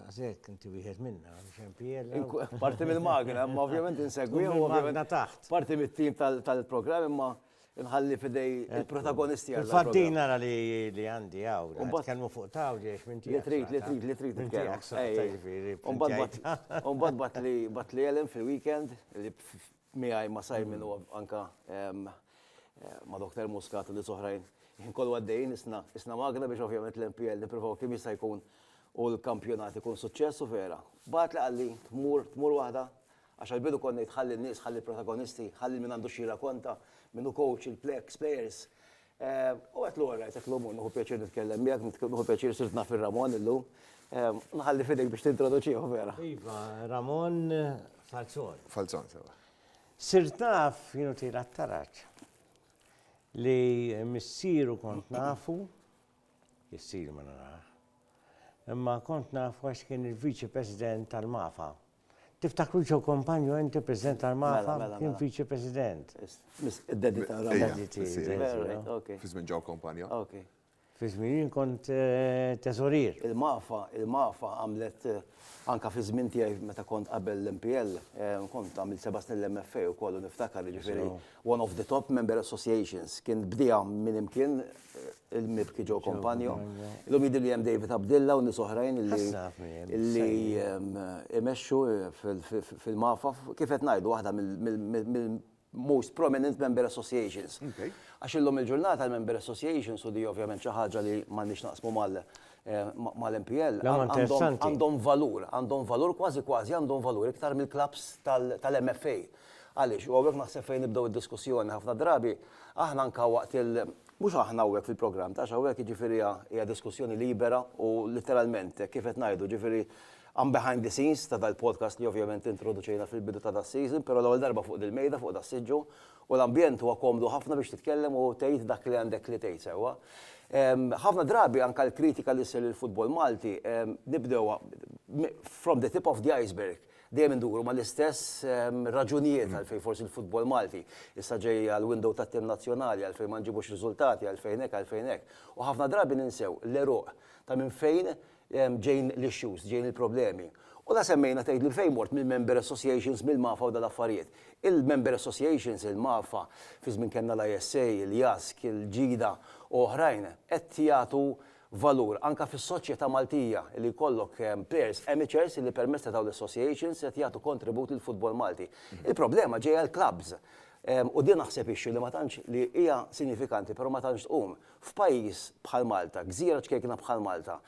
Għazek, inti wieħed minna, xempijel. Parti mill-magna, imma ovvjament insegwi. Magna taħt. Parti mit-tim tal-program, imma nħalli fidej il-protagonisti għal. Fattin nara li għandi għaw. Umbat kelmu fuq taw li għax minti. Li trit, li trit, li trit. Minti għax. Umbat bat li bat li għalem fil-weekend li miegħi ma' Simon u anke ma' Doktor Muscat u nies oħrajn, il-ħin kollu għaddejjin isna magna biex ovvjament l-MPL nippruvaw kemm jista' jkun u l-kampjonat ikun suċċess u vera. Bagħatli qalli tmur, tmur waħda, għax għall-bidu kont ngħid ħalli n-nies, ħalli l-protagonisti, ħalli lil min għandu x'jirrakonta, min hu coach, il-ex players, U għedt lura, Rajtek llum u nieħu pjaċir nitkellem miegħek, nieħu pjaċir sirt naf ir-Ramon illum. Nħalli f'idejk biex tintroduċieħu vera. Iva, Ramon Falzon. Falzon, sewa. Sirt naf, jienu tira t-taraġ, li missieru kont nafu, jissir ma narax, imma kont nafu għax kien il-Viċi President tal-Mafa Tiftakru Joe Compagno inti President tal-Mafa kien Viċi President. Id-daddy ta' Rabba. Daddy tiegħi. Fi żmien Joe Compagno. Fi żmien jien kont eh, teżorier. Il-Mafa, il-Mafa għamlet eh, anka fi żmien tiegħi meta kont qabel l-MPL, eh, kont għamil seba' snin l-MFA u kollu niftakar ġifieri One of the top member associations. Kien bdieha min imkien il-mibki Joe Compagno. Illum jidhirli li hemm David Abdilla u nies oħrajn li imexxu fil-MAFA. Kif qed ngħidu waħda mill-most prominent member associations. Għax illum il-ġurnata l-member associations u di ovvjament xi ħaġa li m'għandniex naqsmu mal-MPL. Għandhom valur, għandhom valur kważi kważi għandhom valur iktar mill-klabbs tal-MFA. Għaliex? U hawnhekk naħseb fejn nibdew id-diskussjoni ħafna drabi, aħna anke waqt il-, mhux aħna hawnhekk fil-programm, għax hawnhekk jiġifieri hija hija diskussjoni libera u litteralment hekk kif qed ngħidu, jiġifieri I'm behind the scenes ta' dal-podcast li ovvjament introduċejna fil-bidu ta' das-season, però l-ewwel darba fuq dil-mejda, fuq das-siġġu, u l-ambjent huwa komdu ħafna biex titkellem u tgħid dak li għandek li tgħid sewwa. Ħafna drabi anke l-kritika li ssir lill-futbol Malti nibdewha from the tip of the iceberg. Dejjem induru mal-istess raġunijiet għalfejn forsi l-futbol Malti issa ġej għall-window tat-tim nazzjonali, għalfejn ma nġibux riżultati, għalfejn hekk, għalfejn hekk. U ħafna drabi ninsew l-għeruq ta' minn fejn ġejjin l-issues, ġejjin il-problemi. U la semmejna tgħidli fejn mort mill-member associations, mill-MAFA u dal-affarijiet. Il-member associations, il-MAFA, fi żmien kellna l-ISA, il-JASC, il-GIDA u oħrajn, qed jagħtu valur anke fis-soċjetà Maltija li jkollok players amateurs li permezz ta' dawn l-associations qed jagħtu kontribut lill-futbol Malti. Il-problema ġejja l-klabbs u din naħseb issue li ma tantx li hija sinjifikanti però ma tantx tqum. F'pajjiż bħal Malta, gżira ċkejkna bħal Malta,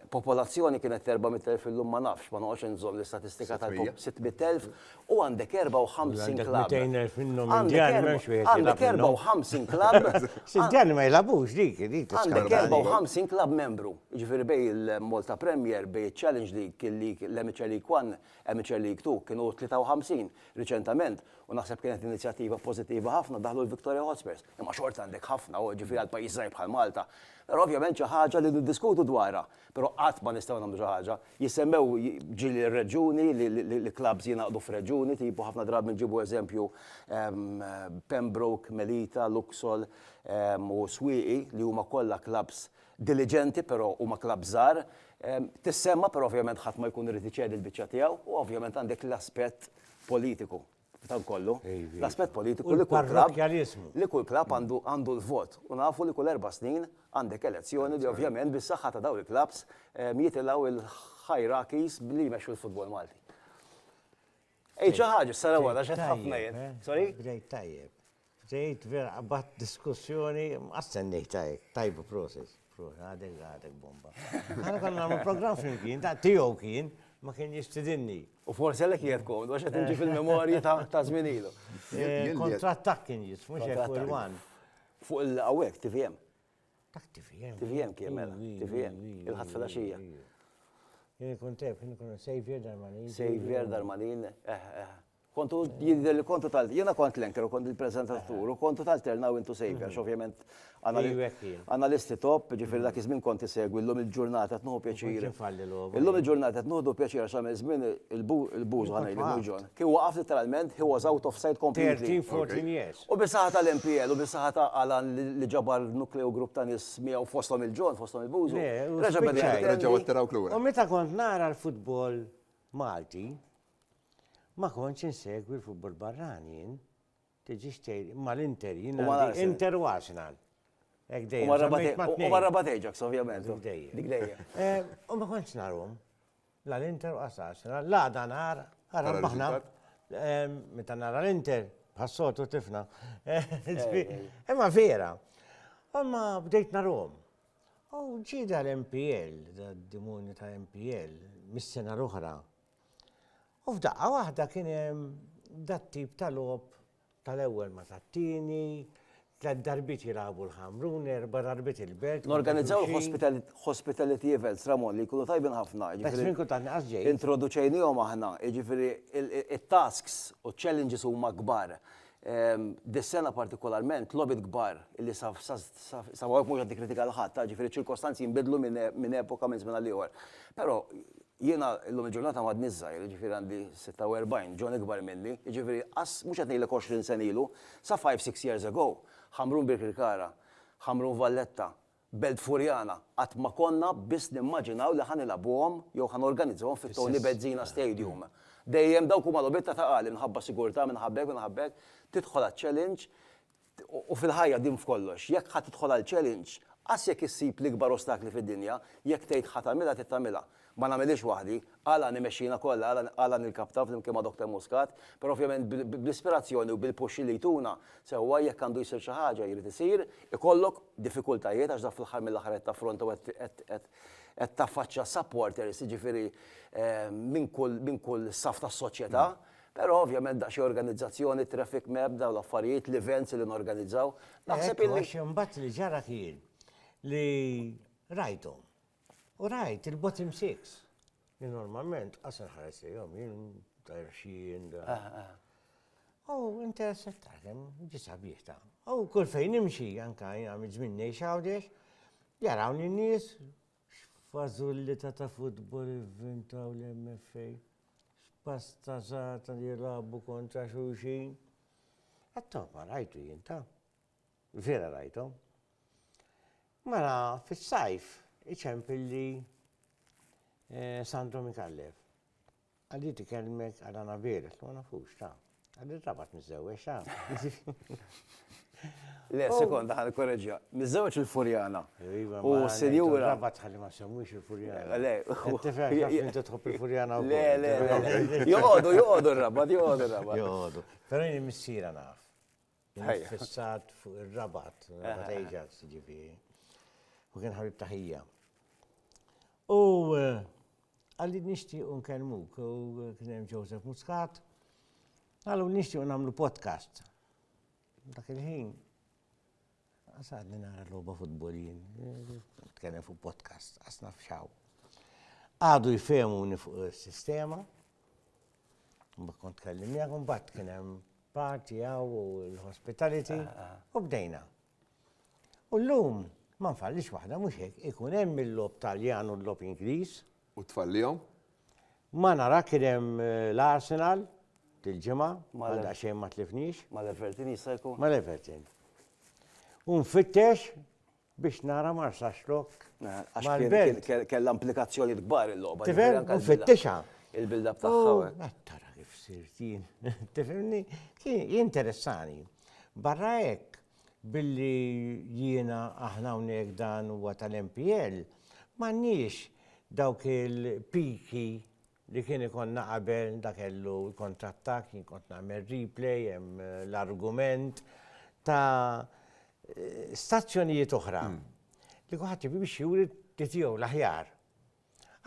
popolazzjoni kienet ta' 400,000 illum ma nafx, ma noqgħodx inżomm l-istatistika tal-, 600,000, u għandek 54 klabb. Għandek 200,000 minnhom Indjani m'hemmx wieħed jilgħab. Għandek 54 klabb. Indjani ma jilgħabux dik, dik tista' tkun. Għandek 54 klabb membru. Jiġifieri bejn il-Malta Premier, bejn iċ-Challenge League, l-Amateur League One, Amateur League Two, kienu 53 riċentament u naħseb kienet inizjattiva pożittiva ħafna daħlu l-Victoria Hotspurs. Imma xorta għandek ħafna, jiġifieri għal pajjiż żgħir bħal Malta. Però ovvjament xi ħaġa li niddiskutu dwarha. Però qatt ma nistgħu nagħmlu xi ħaġa. Jissemmew ġieli r-reġjuni, li clubs jingħaqdu f'reġjuni, tipo ħafna drabi nġibu eżempju Pembroke, Melita, Luxol u Swieqi li huma kollha clubs diliġenti però huma clubs żgħar. Tissemma' però ovvjament ħadd ma jkun irid iċedi l-biċċa tiegħu u ovvjament għandek l-aspett politiku. Dan kollu, l-aspett politiku li kull klabb, li kull klabb għandu għandu l-vot u nafu li kull erba' snin għandek elezzjoni li ovvjament bis-saħħa ta' dawn il-klabbs jitilgħu l-hierarchies li jmexxu l-futbol Malti. Għid xi ħaġa, sara wara x'qed ħafna jien. Sorry? Bdejt tajjeb. Tgħid vera qabadt diskussjoni ma stennejtha hekk. Tajba, prosit. Għadek għadek bomba. Aħna konna nagħmlu programm flimkien, ta' tiegħu kien, ma kien jistidinni. U forsi għalhekk qiegħed komdu għax qed inġi fil-memorji ta' żmien ilu. Eh, Kontratt ta' kien jis, mhux hekk fuq il-wan. Fuq il-qawwek, TVM. Ta' TVM. TVM kien mela, TVM, il-ħadd fil-għaxija. Jien ikun tef, jien ikun Xavier Darmanin. Xavier Darmanin, eh, eh. Kontu jidher li kontu tal jiena kont l-anchor u kont il-preżentatur u kontu talterna u intu sejbi għax ovvjament analisti top, ġifieri dak iż-żmien kont isegwi llum il-ġurnata qed nieħu pjaċir. Illum il-ġurnata qed nieħdu pjaċir għax għamel żmien il-buż ħa ngħidlek mhux John. Kien waqaf litteralment, he was out of sight completely. 13, 14 years. U bis-saħħa tal-MPL u bis-saħħa ta' Alan li ġabar nukleu grupp ta' nies miegħu fosthom il-John, fosthom il-Bużu. Le, reġa' beda jgħid. Reġgħu attirawk lura. U meta kont nara l-futbol Malti, Ma kontx insegwi l-futbol barrani jien. Tiġix tgħid mal-Inter jien għandi Inter u Arsenal. Hekk dejjem. U ma rabat Ajax ovvjament. Dik dejjem. Dik dejjem. U ma kontx narhom. La l-Inter u Arsenal. La dan nar ara baħna. Meta nara l-Inter bħas-sotu tifna. Imma vera. Imma bdejt narhom. U ġida l-MPL, d-dimoni ta' MPL, mis-sena l-oħra, U f'daqqa waħda kien hemm dat tip ta' logħob tal-ewwel ma tat-tieni, tliet darbiet jilagħbu l-Ħamrun, erba' darbiet il-Belt. Norganizzaw l-hospitality events, Ramon, li jkunu tajbin ħafna. Best minn kultant inqas ġej. Introduċejniehom aħna, jiġifieri it-tasks u ċ-challenges huma kbar. Dis-sena partikolarment, logħbiet kbar li sa hawn mhux qed nikkritika lil ħadd, jiġifieri ċ-ċirkostanzi jinbidlu minn epoka minn żmien għal ieħor. Però Jiena llum il-ġurnata m'għadniex żgħir, jiġifieri għandi 46, John ikbar minni, jiġifieri qas, mhux qed ngħidlek għoxrin sena ilu, sa five, six years ago, Ħamrun Birkirkara, Ħamrun Valletta, Belt Furjana, qatt ma konna biss nimmaġinaw li ħa nilagħbuhom jew ħa norganizzawhom fit-Tony Bezzina Stadium. Dejjem dawk huma logħbiet ta' taqal, imħabba sigurtà, minn habbek, minn habbek, tidħol għaċ-challenge, U fil-ħajja din f'kollox, jekk ħa tidħol għal challenge, qas jekk issib l-ikbar ostakli fid-dinja, jekk tgħid ħa tagħmilha trid tagħmilha. Ma nagħmilhiex waħdi, Alla għan imexxina kollha, Alla għan il-kapta flimkien ma' Doctor Muscat, però ovvjament bl-ispirazzjoni u bil-push li jtuna, sewwa jekk għandu jsir xi ħaġa, jrid isir, ikollok diffikultajiet għax dak fl-aħħar mill-aħħar qed taffronta u qed taffaċċja supporters, jiġifieri minn kull saff tas-soċjetà, Però ovvjament daqsxejn organizzazzjoni, traffic map, dawn l-affarijiet, l-events li norganizzaw. Naħseb illi. Għax imbagħad li ġara kien li rajthom. U rajt il-bottom six. Li normalment qasar ħares lejhom jien tajr xien. U interesset taħdem ġisa bieħta. U kull fejn nimxi anka jgħamil żmien ngħix għawdex, jarawni n-nies X'fażullità ta' futbol ivvintaw l-MFA? X'pastażata li jilagħbu kontra xulxin? Għat-togħba rajtu jien ta'. Vera rajthom. Mara fis-sajf iċempilli Sandro Micallef. Għaddiet ikellmek għal Anabela, qed ma nafux, ta. Għaddiet rabat miżżewweġ, ta. Le, sekonda ħa nikkoreġiha. Miżżewweġ il-Furjana. Iva, u sinjura. Rabat ħalli ma semmux il-Furjana. Le, tifhem jaf li inti tħobb il-Furjana u. Le, le, le. Joqogħdu, joqogħdu r-rabat, joqogħdu r-rabat. Joqogħdu. Però jien missiera naf. Fissat fuq ir-rabat, rabat Ajax ġifieri. U kien ħabib taħija. U eh, għalli nishti un kelmuk, u kien hemm Joseph Muscat, għallu nishti un għamlu podcast. Dak il-ħin, Qas għadni nara logħba futbol jien. Nitkellem fuq podcast, qas naf xaw. Għadu jfehmuni fuq is-sistema. Mbagħad kont tkellim miegħek, mbagħad kien hemm party għaw u l-hospitality ah, ah. u bdejna. U l-lum, ma nfallix waħda, mux hekk, ikun hemm il-lob taljan u l-lob Ingliż, U t-tfal lihom? Ma nara kien hemm l-Arsenal dil-ġimgħa, għal daqsxejn ma tlifniex. Mal-Everton jista' jkun? Mal-Everton. U nfittex biex nara ma rsax lok. Mal-Belt. Kellha implikazzjonijiet kbar il-logħba. Tifhem? Nfittixha. Il-build-up tagħha. Tara kif sirt jien. Tifhimni? Kien jinteressani. Barra hekk, Billi jiena, aħna hawnhekk dan huwa tal-MPL, m'għandniex dawk il-piki li kien ikollna qabel, da kellu l-kontrattakk, jien kont nagħmel replay, hemm l-argument ta' stazzjonijiet oħra li kulħadd ibimxi juri li tiegħu l-aħjar.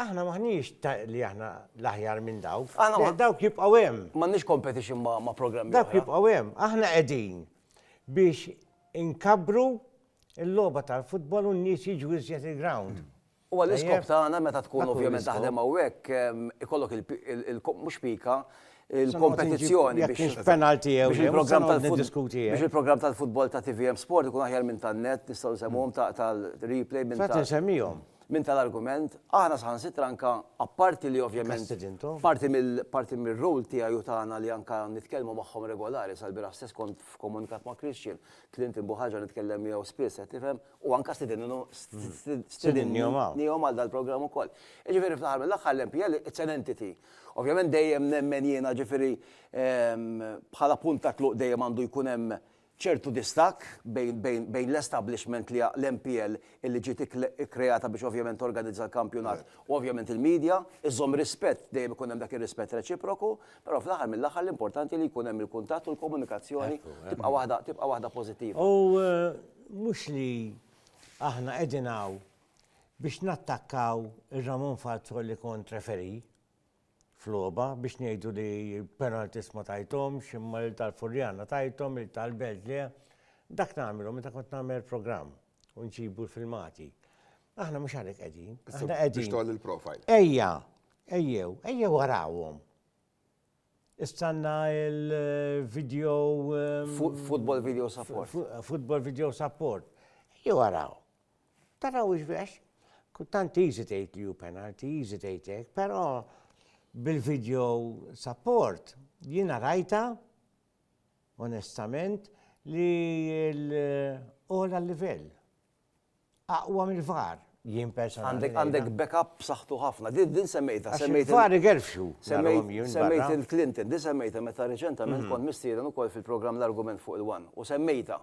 Aħna m'aħniex li aħna l-aħjar minn dawk. Dawk jibqgħu hemm. M'għandniex competition ma' programmi. Dawk jibqgħu hemm. Aħna qegħdin biex inkabbru l-logħba tal-futbol u n-nies jiġu iżjed il-ground. U għall-iskop tagħna meta tkun ovvjament taħdem hawnhekk ikollok il-mhux pika, il-kompetizzjoni biex penalti jew biex il-programm tal-futbol. Biex il-programm tal-futbol ta' TVM Sport ikun aħjar minn tan-net, nistgħu nsemmuhom ta' tal-replay minn tal-. Fatti nsemmihom. Minn tal-argument, aħna saħansitra anke apparti li ovvjament parti mill parti mir-role tiegħi u tagħna li anke nitkellmu magħhom regolari, sal-bieraħ stess kont f'komunikat ma' Christian, tlimt il Buħaġa nitkellem miegħu spiss qed tifhem, u anke stidinnu stidinniehom għal dal-programm ukoll. Jiġifieri fl-aħħar mill-aħħar l-MPL it's an entity. Ovvjament dejjem nemmen jiena ġifieri bħala punt ta' tluq dejjem għandu jkun hemm ċertu distakk bejn l-establishment li hija l-MPL illi ġiet ikkreata biex ovvjament torganizza l-kampjonat u ovvjament il-media, iżżomm rispett, dejjem ikun hemm dak ir-rispett reċiproku, però fl-aħħar mill-aħħar l-importanti li jkun hemm il-kuntatt u l-komunikazzjoni tibqa' waħda tibqa' waħda pożittiva. U mhux li aħna qegħdin hawn biex nattakkaw ir-Ramon Falzon li kont referee, f'logħba biex ngħidu li penalties ma tajthomx imma lil tal-Furjana tajthom lil tal-Belt le. Dak nagħmlu meta kont nagħmel programm u nġibu l-filmati. Aħna mhux għalhekk qegħdin. Aħna qegħdin. Biex tgħolli l-profile. Ejja, ejjew, ejjew warawhom. Istanna il-video. Ehm, football video support. Football video support. Ejjew waraw. Taraw hux vex? Kultant easy tgħid li hu penalty, easy tgħid hekk, però bil-video support jiena rajta onestament li l-ogħla livell. Aqwa mill-var jien personalment. Għandek backup b'saħħtu ħafna. Din semmejta, semmejta. Var igerfxu. Semmejt il-Clinton, din semmejta meta reċentament kont mistieren ukoll fil-programm l-argument fuq il-wan u semmejta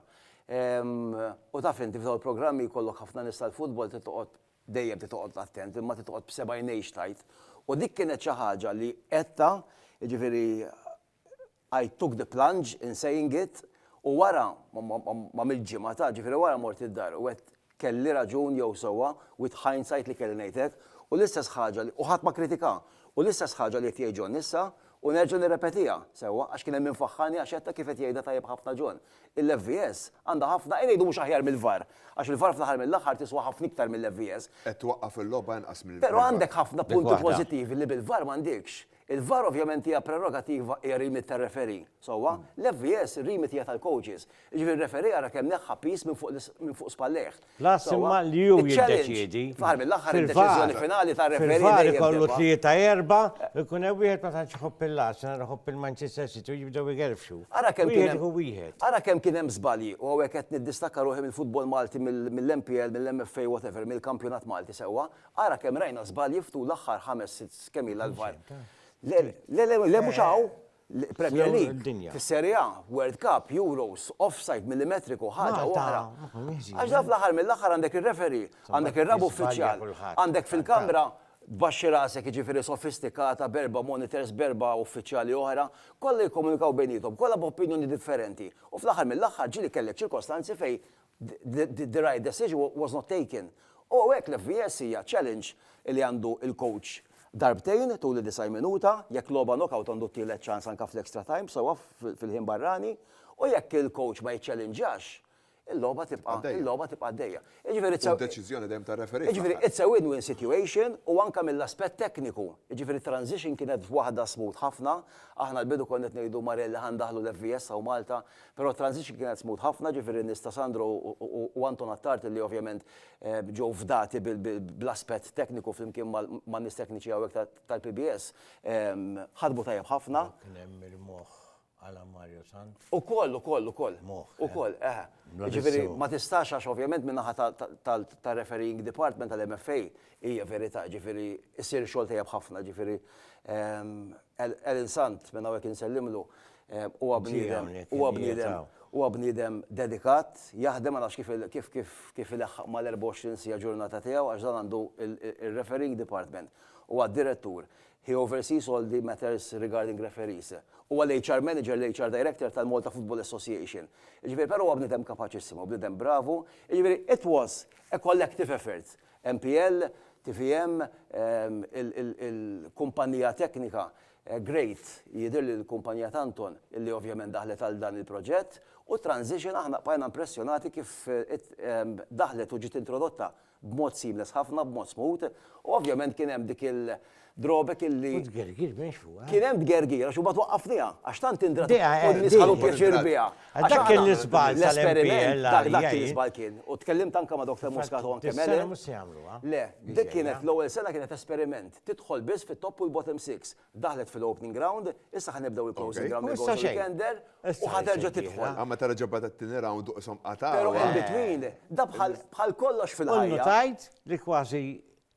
U taf inti f'dawn il-programmi jkollok ħafna nies tal-futbol trid toqgħod dejjem trid toqgħod attent imma trid toqgħod b'seba' għinejn x'tgħid. U dik kienet xi ħaġa li għedtha, jiġifieri I took the plunge in saying it u wara, m'għamiltx ġimgħa ta', ġifieri wara mort id-dar u għedt Kelli raġun jew sewwa, with hindsight li kelli ngħid hekk, u l-istess ħaġa li, u ħadd ma kritika, u l-istess ħaġa li qed jgħid John issa, u nerġa' nirrepetiha, sewwa, għax kien hemm min faħħarni għax għedta kif qed jgħidha tajjeb ħafna John, il-FVS għandha ħafna, ejja ngħidu mhux aħjar mill-VAR, għax il-VAR fl-aħħar mill-aħħar tiswa ħafna iktar mill-FVS. Qed twaqqaf il-logħba inqas mill-VAR. Però għandek ħafna punti pożittivi li bil-VAR m'għandekx. Il-VAR ovvjament hija prerogativa hija remit tar-referee, sewwa? L-FVS remit hija tal-coaches. Jiġifieri r-referee ara kemm neħħa piż minn fuq minn fuq spallejh. L-aħħar imma li hu jiddeċiedi. Fl-aħħar mill-aħħar id-deċiżjoni finali tar-referee dejjem tibqa'. Fil-VAR ikollu tlieta erba' u jkun hemm wieħed ma tantx iħobb il-Arsenal iħobb il-Manchester City u jibdew igerfxu. Ara kemm kien hemm. Wieħed hu wieħed. Ara kemm kien hemm żbalji u hawnhekk qed niddistakka ruħi mill-futbol Malti mill-MPL, mill-MFA whatever, mill-kampjonat Malti sewwa, Ara kemm rajna żbalji f'tul l-aħħar ħames sitt kemm ilha l-VAR. Le, le, le, le mhux hawn. Premier League, fis-Serie A, World Cup, Euros, offside millimetriku, ħaġa oħra. Għax dan fl-aħħar mill-aħħar għandek ir-referee, għandek ir-raba' uffiċjal, għandek fil-kamra tbaxxi rasek jiġifieri sofistikata b'erba' monitors b'erba' uffiċjali oħra, kollha jikkomunikaw bejniethom, kollha b'opinjoni differenti u fl-aħħar mill-aħħar ġieli kellek ċirkostanzi fejn the right decision was not taken. U hekk l-FVS hija challenge li għandu l-coach darbtejn tul id-90 minuta, jekk logħba knockout għandu t-tielet ċans anke fl-extra time sewwa fil-ħin barrani u jekk il-coach ma jiċċellinġax, il-logħba tibqa' il-logħba tibqa' għaddejja. Jiġifieri it's a Deċiżjoni dejjem tar-referee. Jiġifieri it's a win-win situation u anke mill-aspett tekniku. Jiġifieri t-transition kienet waħda smooth ħafna. Aħna l-bidu konna qed ngħidu Marelli ħa ndaħħlu l-FVS hawn Malta, Però t-transition kienet smooth ħafna, ġifieri n-nies ta' Sandro u Anton Attard li ovvjament ġew fdati bl-aspett tekniku flimkien man-nies tekniċi hawnhekk tal-PBS, ħadmu tajjeb ħafna. Dawk kien hemm il-moħħ Alan Mario Sant? Ukoll, ukoll, ukoll. Moħħ. Ukoll, eħe. Jiġifieri ma tistax għax ovvjament min-naħa tar-refereeing department tal-MFA hija verità, ġifieri jsir xogħol tajjeb ħafna, ġifieri Alan Sant minn hawnhekk insellmlu, Huwa bniedem, huwa bniedem, huwa bniedem dedikat, jaħdem ma nafx kif kif kif kif ilaħħaq mal-24 siegħa ġurnata tiegħu għax dan għandu r-refereeing department. Huwa d-direttur. He oversees all the matters regarding referees. Huwa l-HR manager, l-HR director tal-Malta Football Association. Jiġifieri però huwa bniedem kapaċissimo, bniedem bravu. Jiġifieri it was a collective effort. MPL, TVM, il-kumpanija teknika Great, jidhirli li l-kumpanija ta' Anton li ovvjament daħlet għal dan il-proġett, u Transition aħna bqajna impressjonati kif daħlet u ġiet introdotta b'mod seamless ħafna, b'mod smooth, u ovvjament kien hemm dik il-drawback illi. U tgergir mhix fuqha. Kien hemm tgergir għax imbagħad waqqafniha għax tant indrat u n-nies ħadu pjaċir biha. Għax dak kien l-iżball tal-MPL. Dak kien l-iżball kien. U tkellimt anke ma' Dr. Muscat u anke Mele. Fis-sena mhux se jagħmluha. Le, dik kienet l-ewwel sena kienet esperiment. tidħol biss fit-top u l-bottom six. Daħlet fil-opening round, issa ħa nibdew il-closing round li jkun tender u ħa terġa' tidħol. Imma meta reġa' beda t-tieni round u qishom qatgħu. Però in between, da bħal kollox fil-ħajja. U notajt li kważi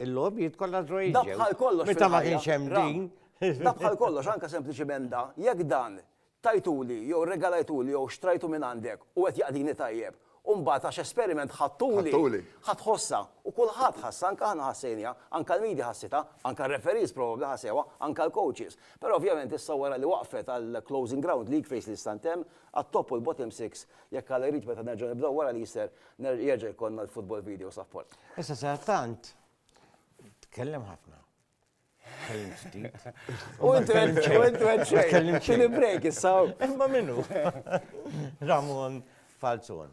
l-logħbiet kollha draw jiġu. Da bħal kollox fil-ħajja. Meta ma kienx hemm din. Da bħal kollox, anke sempliċiment da, jekk dan tajtuli jew irregalajtuli jew xtrajtu minn għandek u qed jaqdini tajjeb u mbagħad għax esperiment ħadtuli, Ħadtuli. ħa tħossha u kulħadd ħassha anke aħna ħassejniha, anke l-media ħassitha, anke r-referees probabbli ħasewha, anke l-coaches. Però ovvjament issa wara li waqfet għall-Closing Ground League phase li issa ntemm, għat-Top u l-Bottom Six, jekk Alla jrid meta nerġgħu nibdew wara l-Easter ner jerġa' jkollna l-Football Video Support. Issa sadattant tkellem ħafna. Ħin ftit. U intu għed xejn. Xejn il-break issaw. Imma minnu. Ramon Falzon.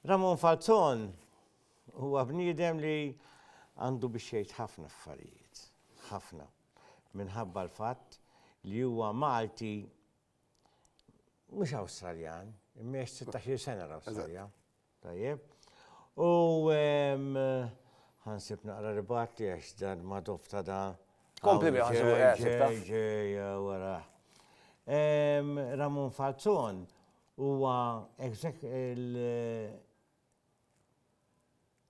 Ramon Falzon huwa bniedem li għandu biex jgħid ħafna affarijiet. Ħafna. Minħabba l-fatt li huwa Malti mhux Awstraljan, imma jgħix 16 sena l-Awstralja. Tajjeb. U ħansib naqra ribat li għax dan ma dofta da. Kompli bi ħansu wara. Ramon Falzon huwa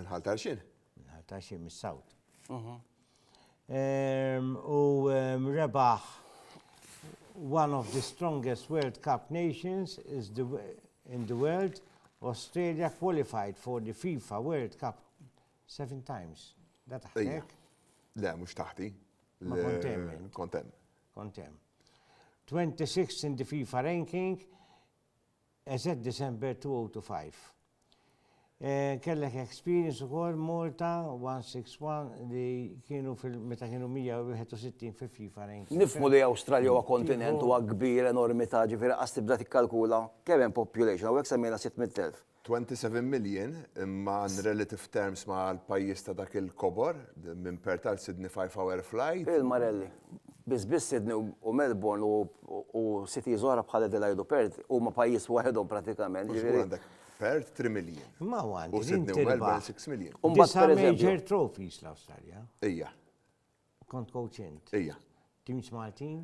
Minn Ħal Tarxin? Minn Ħal Tarxin, mis-Sawt. U rebaħ one of the strongest World Cup nations is the, in the world, Australia qualified for the FIFA World Cup seven times. Da taħtek? Le, mux taħti. Kontem. Kontem. Kontem. 26 in the FIFA ranking, EZ December 2025 Kellek experience ukoll Malta 161 li kienu fil meta kienu 161 fi FIFA ranking. Nifhmu li Awstralja huwa kontinent huwa kbir enormità ġifieri qas tibda tikkalkula kemm hemm population hawnhekk semmejna 600,000. 27 million imma in relative terms ma' l-pajjiż ta' dak il-kobor minn Perth għal Sydney five hour flight. Il-Marelli. Biss biss Sydney u Melbourne u cities oħra bħal Adelaide u Perth huma pajjiż waħedhom prattikament. Mhux tkun għandek Perth 3 miljun. Imma huwa għandu. U Sydney u Melbourne 6 miljun. U mbagħad per eżempju. Major trophies l-Awstralja. Ija. Kont coach int. Ija. Teams Maltin?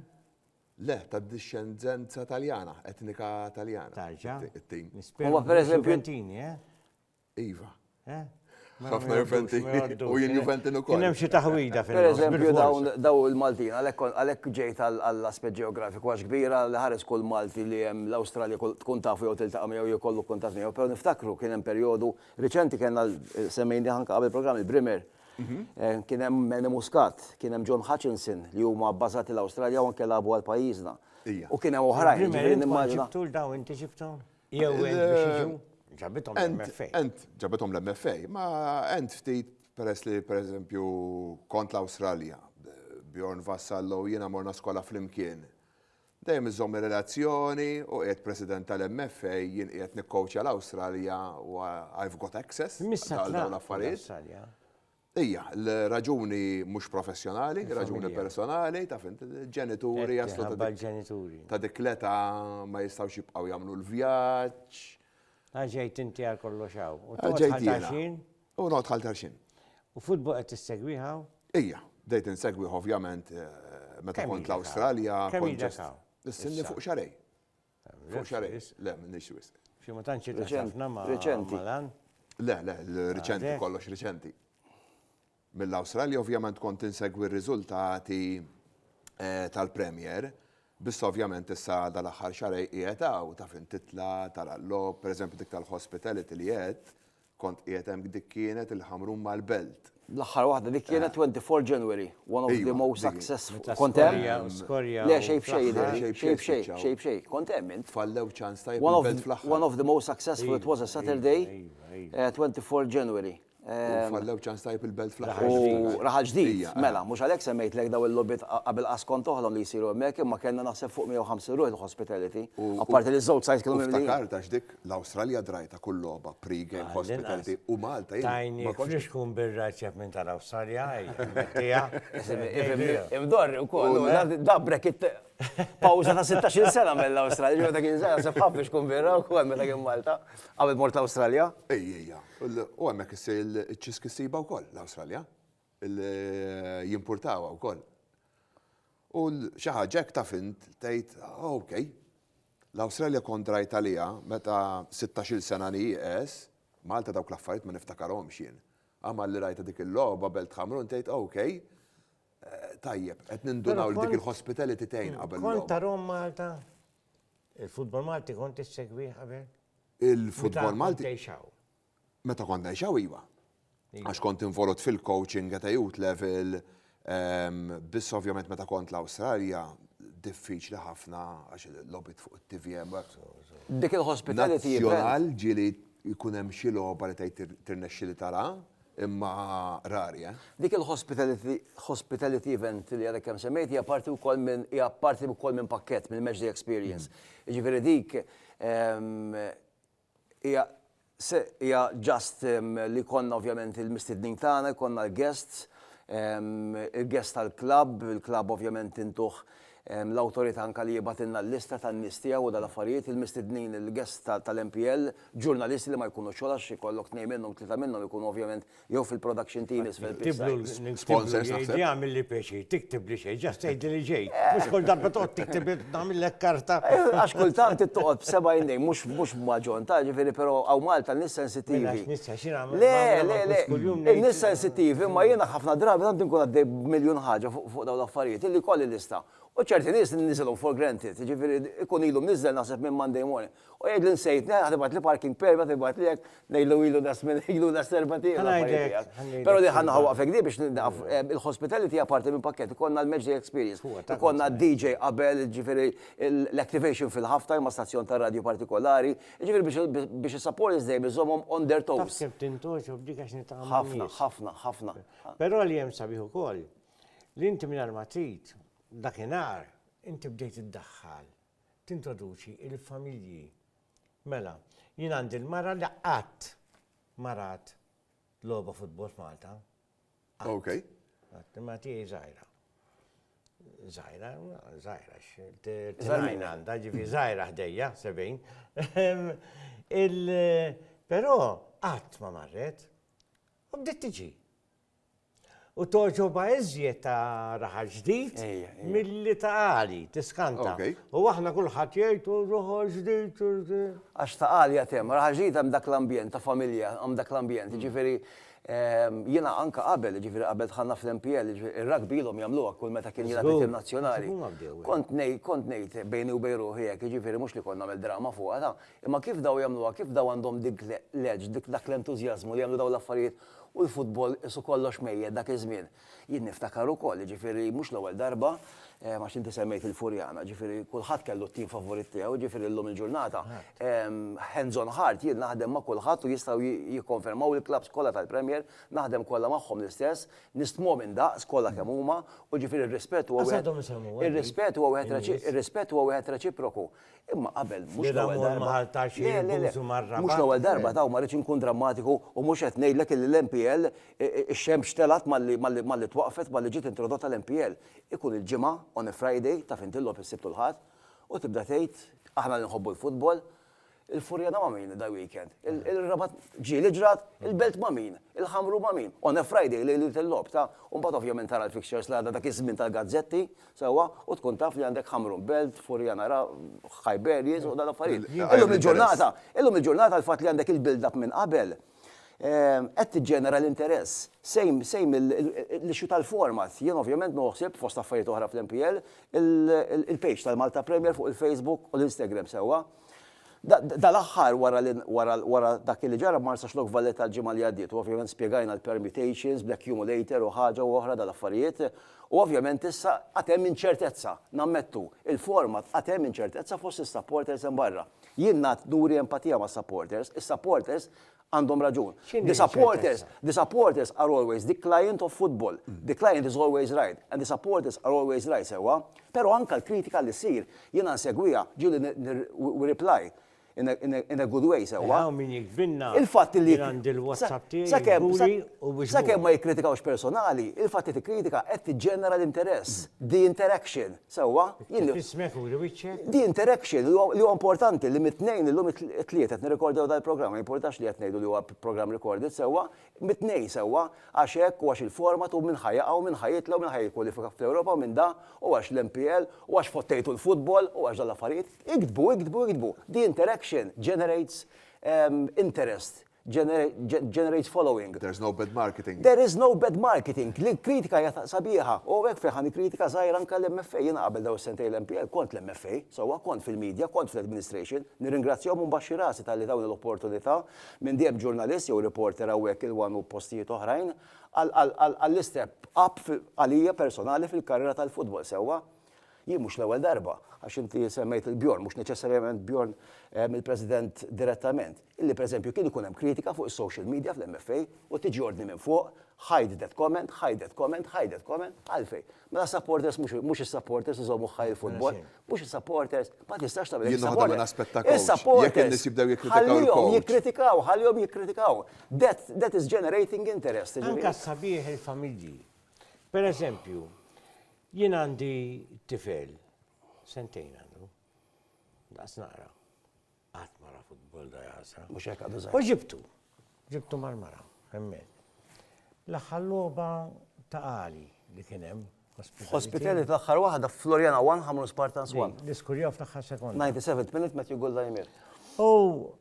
Le, ta' discendenza Taljana, etnika Taljana. Tarġa. It-tim. Huwa per eżempju. Juventini, eh? Iva. Eh? Mela Ħafna Juventi u jien Juventin ukoll. Kien hemm xi taħwida fil Pereżempju daw il-Maltin għalhekk ġejt għall-aspett ġeografiku għax kbira li ħares kull Malti li hemm l-Awstralja tkun tafu jew tiltaqa' miegħu jew kollu kuntatt miegħu, però niftakru kien hemm perjodu riċenti kellna semmejni anke qabel programm il-Brimer. Mhm. Eh, kien hemm Manny Muscat, kien hemm John Hutchinson li huma bbażati l-Awstralja u anke labu għal pajjiżna. U kien hemm oħrajn. Ġifieri nimmaġina. Tul daw inti xifthom? Jew int biex jiġu ġabithom l-MFA. Int ġabithom l-MFA, ma int ftit peress li pereżempju kont l-Awstralja, Bjorn Vassallo jiena morna skola flimkien. Dejjem iżomm ir-relazzjoni u qiegħed president tal-MFA jien qiegħed nikkowċja l-Awstralja u I've got access għal dawn l-affarijiet. Ija, l-raġuni mhux professjonali, raġuni personali, taf int, ġenituri jaslu ta' ġenituri. Ta' dik l-età ma jistgħux jibqgħu jagħmlu l-vjaġġ. Ħaġejt inti għal kollox hawn. U Ħaġejt tħaltar jiena. xejn? U noqgħod ħaltar xejn. U futbol qed tissegwiha hawn? Ija, bdejt insegwih ovvjament eh, meta Kemm kont ilek hawn? l-Awstralja. Kemm kont ilek ġest- hawn? Is-sinni Issa. fuq xarej. Fuq xarejn, le, m'iniex wisq. Xi ma tantx irtaħt ħafna ma' lan? Le, le, riċenti, kollox riċenti. Mill-Awstralja ovvjament kont insegwi r-riżultati eh, tal-Premier, biss ovvjament issa dal-aħħar xarej qiegħed hawn taf intitla tal-allob, pereżempju dik tal-hospitality li qed, Kont qiegħed hemm dik kienet il-Ħamrun mal-Belt. L-aħħar waħda dik kienet 24 January, one of the most successful. Kont hemm? Skorja. Le xejn b'xejn jidher. Xejn b'xejn. Xejn b'xejn. Kont hemm int? Fallew ċans tajjeb il-Belt fl-aħħar. One of the most successful, it was a Saturday, 24 January. Fallew ċans tajjeb il-Belt fl-aħħar. U raħal ġdid. Mela, mhux għalhekk semmejtlek daw il-logħbiet qabel qas kont toħlom li jsiru hemmhekk imma kellna naħseb fuq 150 ruħ il-hospitality. Apparti li ż-żewġ sajds kienu mimlijin. Ftakart għax dik L-Awstralja drajta kull logħba pre-game hospitality u Malta jien. Tajni frixku mbirra ċef minn tal-Awstralja, mettija. Imdorri u koll, dabrek it pawza ta' 16 sena mill-Awstralja, ġo dak iż-żgħar sef ħafna frixku mbirra u koll meta kien Malta, qabel mort l-Awstralja. Ejja, u hemmhekk issir iċ-ċiski ssiba wkoll l-Awstralja. Li jimpurtawha wkoll. U xi ħaġa hekk taf int tgħid ok. L-Awstralja kont drajt għaliha meta sittax-il sena nieqes, Malta dawk l-affarijiet ma niftakarhomx jien. Għad malli rajtha dik il-logħba belt Ħamrun tgħid ok, tajjeb, qed nindunaw li dik il-hospitality tgħin qabel il-logħba. Kont tarahom Malta? Il-futbol Malti kont issegwih qabel? Il-futbol Malti. Meta kont tgħix hawn? Meta kont ngħixaw iva. Għax kont involut fil-coaching at a youth level, biss ovvjament meta kont l-Awstralja, diffiċli ħafna għax l-lobit fuq it-TVM. Dik il-hospitality event. Ġili jkun hemm xi logħba li tgħid tirnexxi li tara, imma rari, eh. Dik il-hospitality event li għadek kemm semmejt hija parti wkoll minn hija parti wkoll minn pakkett mill-Match Day Experience. Jiġifieri dik Hija se hija just li jkollna ovvjament il-mistednin tagħna, jkollna l-guests, il-guests tal-klabb, il-klabb ovvjament intuh l-awtorità anke li jibgħatilna l-lista tan-nies tiegħu u dal-affarijiet, il-mistednin il-guests tal-MPL, ġurnalisti li ma jkunux xogħol għax ikollok tnejn minnhom, tlieta minnhom ikunu ovvjament Jew fil-production team isfel pitch side. Tiblu l-sponsor jgħid li għamil li pjaċir, tiktib li xejn, ġast tgħidli li ġej. Mhux kull darba toqgħod tiktib nagħmillek karta. Għax kultant toqgħod b'seba' indejn, mhux mhux b'maġon, ta' ġifieri però hawn Malta n-nies sensittivi. Le, le, le, in-nies sensittivi, imma jiena ħafna drabi tant inkun għaddej b'miljun ħaġa fuq dawn l-affarijiet illi jkolli lista. U ċerti nies niżilhom for granted, jiġifieri jkun ilu mniżżel naħseb minn Monday morning. U jgħidli nsejt ngħid ħa tibgħatli parking permit ħa tibgħatli hekk, ngħidlu ilu da żmien ilu da serba tiegħu l-affarijiet tiegħek. Però din ħa naħa waqfa fik din biex nieqaf, il-hospitality hija parti minn pakkett, ikollna l-match day experience, ikollna d-DJ qabel, jiġifieri l-activation fil-half time ma' stazzjon ta' radju partikolari, jiġifieri biex is-supporters dejjem iżommhom on their toes. Taf kemm tintgħoġob b'dik għax niltaqa' ma' nies. Ħafna, ħafna, ħafna. Però li hemm sabiħ ukoll li inti mingħajr ma trid, dakinhar inti bdejt iddaħħal Tintroduċi l-familji. Mela, jien għandi l-mara li qatt ma rat logħba futbol f'Malta. Qatt. Qatt. Imma tiegħi żgħira. Żgħira, żgħira, t-tnajn għandha, ġifi żgħira ħdejja, sebejn. Però qatt ma marret. U bdiet tiġi. U toġoba iżjed ta' raħal ġdid milli ta' għali, tiskanta. U aħna kulħadd jgħid u raħal ġdid. Għax ta' għali għatem, raħal ġdid għam dak l-ambjent ta' familja, għam dak l-ambjent. Ġifiri, jina anka qabel, ġifiri qabel tħanna fl-MPL, il-rugby ilhom jagħmluha kull meta kien jilgħab it-tim nazzjonali. Kont ngħid, kont ngħid bejni u bejn ruħi hekk, ġifiri mhux li kont nagħmel drama fuqha ta', imma kif daw jagħmluha, kif daw għandhom dik l-edge, dak l-entużjażmu li jagħmlu daw l-affarijiet u l-futbol qisu kollox mejjet dak iż-żmien. Jien niftakar ukoll, jiġifieri mhux l-ewwel darba, għax inti semmejt il-Furjana, jiġifieri kulħadd kellu t-tim favorit tiegħu, jiġifieri llum il-ġurnata, hands on heart, jien naħdem ma' kulħadd u jistgħu jikkonfermaw il-klabbs kollha tal-Premier, naħdem kollha magħhom l-istess, nistmhom indaqs kollha kemm huma, u jiġifieri r-rispett huwa wieħed reċiproku. Imma qabel, mhux l-ewwel darba, le, le, le, mhux l-ewwel darba taw, ma rridx inkun drammatiku u mhux qed ngħidlek illi l-MPL, ix-xemx telgħet malli twaqqfet, malli ġiet introdotta l-MPL. Ikun il-Ġimgħa, on a Friday, taf int il-logħob is-Sibt u l-Ħadd, u tibda tgħid, aħna li nħobbu l-futbol, il-Furjana ma' min dal-weekend? Ir-Rabat ġie li ġrat, il-Belt ma' min? Il-Ħamru ma' min? On a Friday, lejliet il-logħob, ta? U mbagħad ovvjament tara l-fixtures li għadha dak iż-żmien tal-gazzetti, sewwa u tkun taf li għandek Hamrun Belt, Furrianara, Khyberjis u dawn l-affarijiet. Illum il-ġurnata, illum il-ġurnata l-fatt li għandek il-build-up minn qabel qed tiġġenera l-interess. Same, same l-issue tal-format. Jien ovvjament nieħu ħsieb, fost affarijiet oħra fl-MPL, il-page tal-Malta Premier fuq il-Facebook u l-Instagram sewwa. Dal-aħħar wara dak li ġara Marsaxlokk Lok Valletta l-ġimgħa li għaddiet u ovvjament spjegajna l-permutations bl-accumulator u ħaġa u oħra dal-affarijiet u ovvjament issa għad hemm inċertezza, nammettu, il-format għad hemm inċertezza fost is-supporters hemm barra. Jien ngħad nuri empatija mas-supporters, is-supporters Għandhom raġun. The supporters, the supporters are always the client of football. The client is always right and the supporters are always right, sewwa. Però anke l-kritika li ssir, jiena nsegwiha, ġieli we reply in a, in a, in a good way, sewwa. Hawn min jiktbilna, jien għandi l-WhatsApp tiegħi, jkuli u biex. Sakemm ma jikkritikawx personali, il-fatt li tikkritika qed tiġġenera l-interess, the interaction. Sewwa, jien. Iftħi smigħek u uri wiċċek. The interaction li huwa importanti li mit-Tnejn, illum it-Tlieta qed nirrikordjaw dal-programm, ma jimpurtax li qed ngħidu li huwa programm recorded, sewwa, mit-Tnejn, sewwa, għax hekk u għax il-format u min ħa jaqa' u min ħa jitla' u min ħa jikkwalifika fl-Ewropa u min da, u għax l-MPL, u għax fottejtu l-futbol, u għax dawn l-affarijiet. Iktbu, iktbu, iktbu. The interaction generates interest. generates following. There's no bad marketing. There is no bad marketing. L-kritika hija sabiħa. U hekk fejn ħa nikkritika żgħir anke l-MFA. Jiena qabel dawn is-sentejn l-MPL kont l-MFA, sewwa kont fil-media, kont fl-administration. Nirringrazzjahom u nbaxxi rasi talli tawni l-opportunità minn dejjem ġurnalist jew reporter hawnhekk il-one u postijiet oħrajn għall-istep up għalija personali fil-karriera tal-futbol, sewwa. Jien mhux l-ewwel darba, għax inti semmejt lil Bjorn, mhux neċessarjament Bjorn eh, mill-President direttament, illi pereżempju kien ikun hemm kritika fuq is-social media fl-MFA u tiġi ordni minn fuq, hide that comment, hide that comment, hide that comment, għalfej. Mela supporters mhux is-supporters iżommu ħaj il-futbol, mhux is-supporters, ma tistax tagħmel Jien naħdem minn aspetta Jekk in-nies jibdew jikkritikaw il-coach. jikkritikaw, ħallihom jikkritikaw. That is generating interest. Anka sabiħ il-familji. Per eżempju, Jien għandi tifel, sentejn għandu, daqs naqra. Qatt ma ra futbol da jasa. Mhux hekk għadu żgħar. U ġibtu, ġibtu mal-mara, hemmhekk. L-aħħar logħba ta' għali li kien hemm. Hospitality l-aħħar waħda Floriana 1 ħamru Spartans 1. L-iskurjaw fl-aħħar sekonda. 97th minute Matthew Gulda jmir. U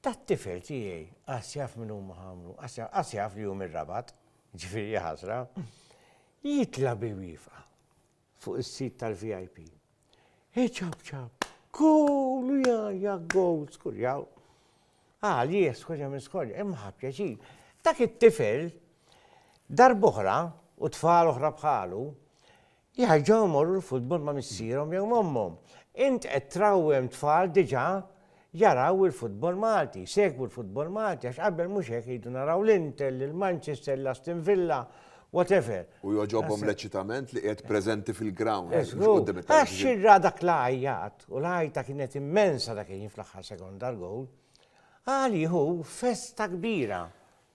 Tat-tifel tiegħi, qas jaf min huma ħamlu, qas jaf li hu mir-Rabat, jiġifieri jaħasra, jitla' bi wieqfa fuq is-sit tal-VIP. Iċapċap, goal u jgħajja goal, skurjaw. Għalih skurja minn skorja, imma ħa pjaċir. Dak it-tifel, darboħra u tfal oħra bħalu, Jerġgħu jmorru l-futbol ma' missierhom jew m'ommhom. Int qed trawwem tfal diġà jaraw il-futbol Malti, jsegwu l-futbol Malti għax qabel mhux hekk iridu naraw l-Inter, lil Manchester, lil Aston Villa, whatever. U jogħġobhom l-eċitament li qiegħed preżenti fil-ground mhux quddiem it-televixin. Żgur, għax irra dak l-għajjat u l-għajta kienet immensa dak il-ħin fl-aħħar sekonda għall-gowl. Għalih hu festa kbira.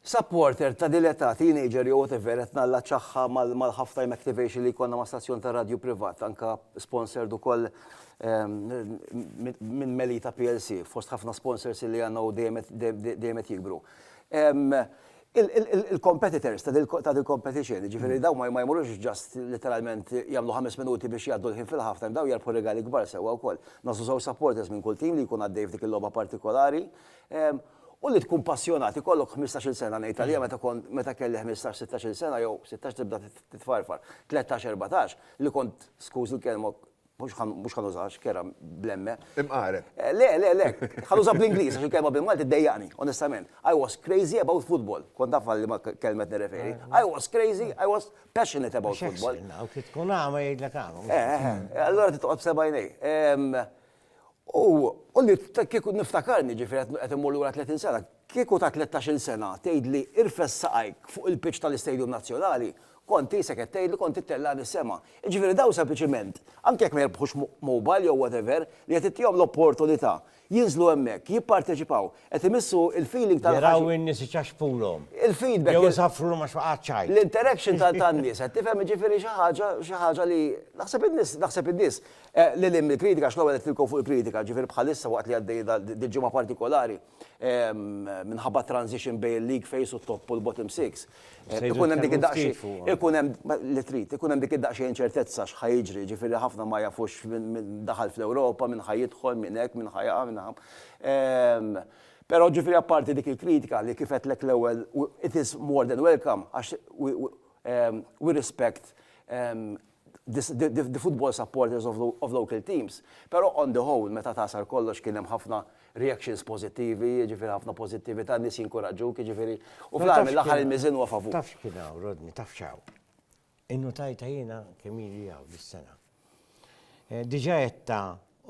Supporter ta' din l-età, teenager jew whatever, qed nallaċċahha mal-half time activation li jkollna ma' stazzjon ta' radju privat, anke sponsored ukoll minn Melita plc, fost ħafna sponsors li għandna u dejjem qed jikbru. Il-competitors ta' din il-competition, jiġifieri dawn ma jmorrux just letteralment jagħmlu ħames minuti biex jgħaddu l-ħin fil-half time, dawn jerbħu rigali kbar sewwa wkoll. Nagħżlu żewġ supporters minn kull tim li jkun għaddej f'dik il-logħba partikolari. U li tkun passjonat, ikollok ħmistax-il sena ngħid għaliha meta kont, meta kelli ħmistax, sittax-il sena jew sittax tibda titfarfar, tlettax, erbatax, li kont, skuż il-kelma, mhux ħa, mhux ħa nużaha x'kera bl-emme. Imqareb. Le, le, le, ħa nuża bl-Ingliż għax il-kelma bil-Malti ddejjaqni, onestament. I was crazy about football, kont naf għal liema kelma qed nirreferi. I was crazy, I was passionate about football. X'jaħsbilna, u trid tkun agħma jgħidlek agħma. Eh, eh, eh, allura trid toqgħod b'sebgħajnejk. U li kieku niftakarni, ġifieri qed immur lura tletin sena, kieku ta' tlettax-il sena tgħidli irfes saqajk fuq il-pitch tal-Istadium Nazzjonali, kont qisek qed tgħidli kont ittellagħni s-sema. Jiġifieri dawn sempliċiment, anke jekk ma jirbħux mobile jew whatever, li qed ittihom l-opportunità jinżlu hemmhekk, jipparteċipaw, qed imissu l-feeling tal-. Jaraw in-nies iċaxxpulhom. Il-feedback. Jew isaffrulhom għax waqgħet x'għid. L-interaction tan-nies, qed tifhem, jiġifieri xi ħaġa, xi ħaġa li naħseb in-nies, naħseb in-nies Lil hinn mill-kritika, għax l-ewwel qed nitkellmu fuq il-kritika, ġifieri bħalissa waqt li għaddej dil-ġimgħa partikolari minħabba t-transition bejn il-league phase u t-top u l-bottom six, ikun hemm dik id-daqsxejn, ikun hemm li trid, ikun hemm dik id-daqsxejn inċertezza x'ħa jiġri, ġifieri ħafna ma jafux min daħal fl-Ewropa, min ħa jidħol, min hekk, min ħa jaqa', min ħa. Però ġifieri apparti dik il-kritika li kif għedtlek l-ewwel, it is more than welcome għax we respect the football supporters of local teams, pero on the whole meta tagħsar kollox kien hemm ħafna reactions pożittivi, jiġifieri ħafna pożittivita, nies jinkuraġġuk, jiġifieri u fl-aħħar mill-aħħar il-miżien huwa favur. Taf x'kien hawn Rodney, taf x'hawn. Innutajtha jiena kemm ili hawn dis-sena. Diġa' għedtha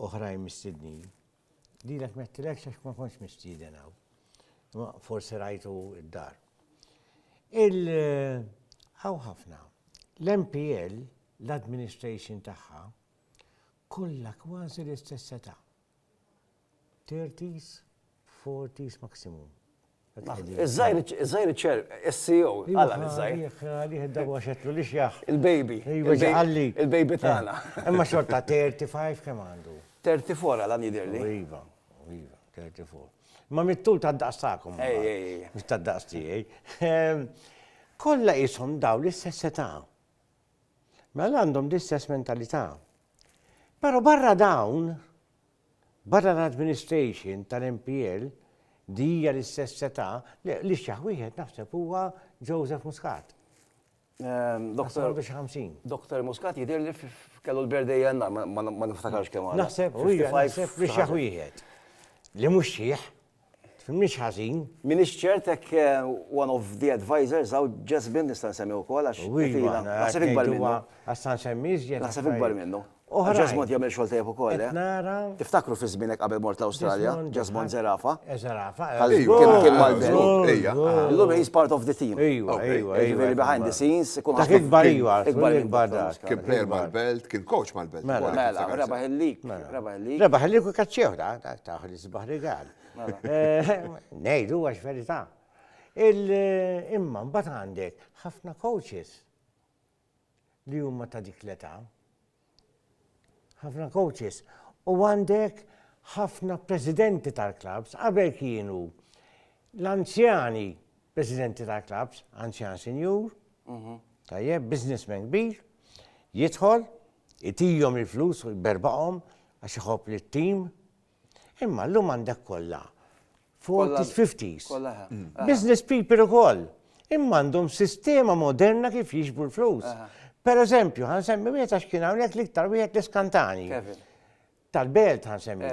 oħrajn mistednin. Lilek m'għedtilekx għax ma kontx mistieden hawn. Imma forsi rajtu d-dar. Il hawn ħafna. L-MPL, l-administration tagħha, kollha kważi l-istess età. Thirties, forties maximum. Iż-żgħir, iż-żgħir iċ-ċer, is-CEO, għala l-żgħir. Għalih id-darba għax għedtlu li xjaħ. Il-baby. Iva ġaqalli. Il-baby tagħna. Imma xorta 35 kemm għandu? 34 għala jidhirli. Iva, iva, 34. Ma mittul ta' daqs tagħkom. Ej, ej, ej. Mhux ta' daqs tiegħi. Kollha qishom daw l-istess età. Mela għandhom l-istess mentalità. Però barra dawn, Barra l-administration tal-MPL li hija l-istess setgħa, le, l-ixjaħ wieħed naħseb huwa Joseph Muscat. Naħseb għandu xi ħamsin. Dr. Muscat jidhirli kellu l-birthday jannar, ma niftakarx kemm għadu. Naħseb, u hija naħseb l-ixjaħ wieħed. Li mhux xiħ, Tfhimnix ħażin. M'iniex ċert hekk one of the advisors hawn Jasmine nista' nsemmi wkoll għax tila. Naħseb ikbar minnu. Għax sa nsemmi iżjed. Naħseb ikbar minnu. Oħra. Jasmine jagħmel xogħol tajjeb ukoll. Qed nara. Tiftakru fi żmienek qabel mort l-Awstralja, Jasmine Zerafa. Zerafa. Kien mal-belt. Ejja. Illum he's part of the team. Ejwa, ejwa. Jiġifieri behind the scenes. Dak ikbar ejwa. Ikbar ikbar dak. Kien player mal-belt, kien coach mal-belt. Mela, rebaħ il-lik. Rebaħ il-lik. Rebaħ il-lik u kaċċew dak. Sbaħ rigal. Ngħidu għax verità. Imma mbagħad għandek ħafna coaches li huma ta' dik l-età. Ħafna coaches. U għandek ħafna presidenti tal-klabs qabel kienu l-anzjani presidenti tal-klabs, anzjan senjur, mhm. tajjeb, businessman kbir, jidħol, itijom il-flus u jberbaqom għax iħobb li t-tim, Imma llum għandek kollha 40s, 50s. Business people ukoll. Imma għandhom sistema moderna kif jiġbu l-flus. Per eżempju, ħan semmi wieħed għax kien hawnhekk l-iktar wieħed l-iskantani. Tal-belt ħan semmi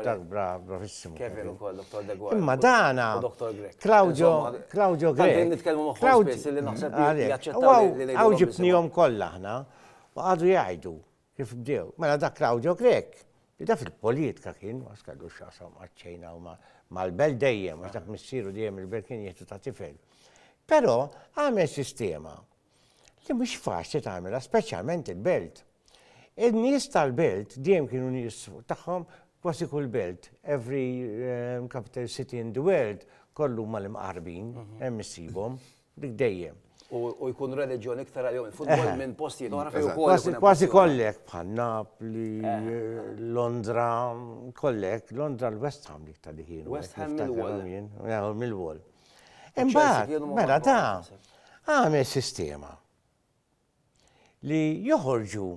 dak bravissimu. Kevin ukoll, Dr. Degwa. Imma dana. Dr. Grek. Claudio, Claudio Grek. Għandin nitkellmu magħhom spiss li naħseb li jaċċettaw. Għaw ġibnihom kollha aħna u għadu jgħidu. Kif bdew? Mela dak Claudio Grech, li da fil-politka kien, ma skallu x'jaqsam maċ-Ċina u mal-belt dejjem, għax dak missieru dejjem il-belt kien jieħdu ta' tifel. Però għamel sistema li mhux faċli tagħmilha, speċjalment il-belt. In-nies tal-belt dejjem kienu nies tagħhom kważi kull belt, every eh, capital city in the world, kollu ma l-imqarbin, mhm. hemm issibhom. Dik dejjem. U jkun reliġjon iktar għalihom il-futbol minn postijiet oħra fejn ukoll. Kważi kollek bħal Napli, Londra, kollek, Londra l-West Ham dik ta' diħin. West Ham mill-wol. Imbagħad, mela da, għamel sistema li joħorġu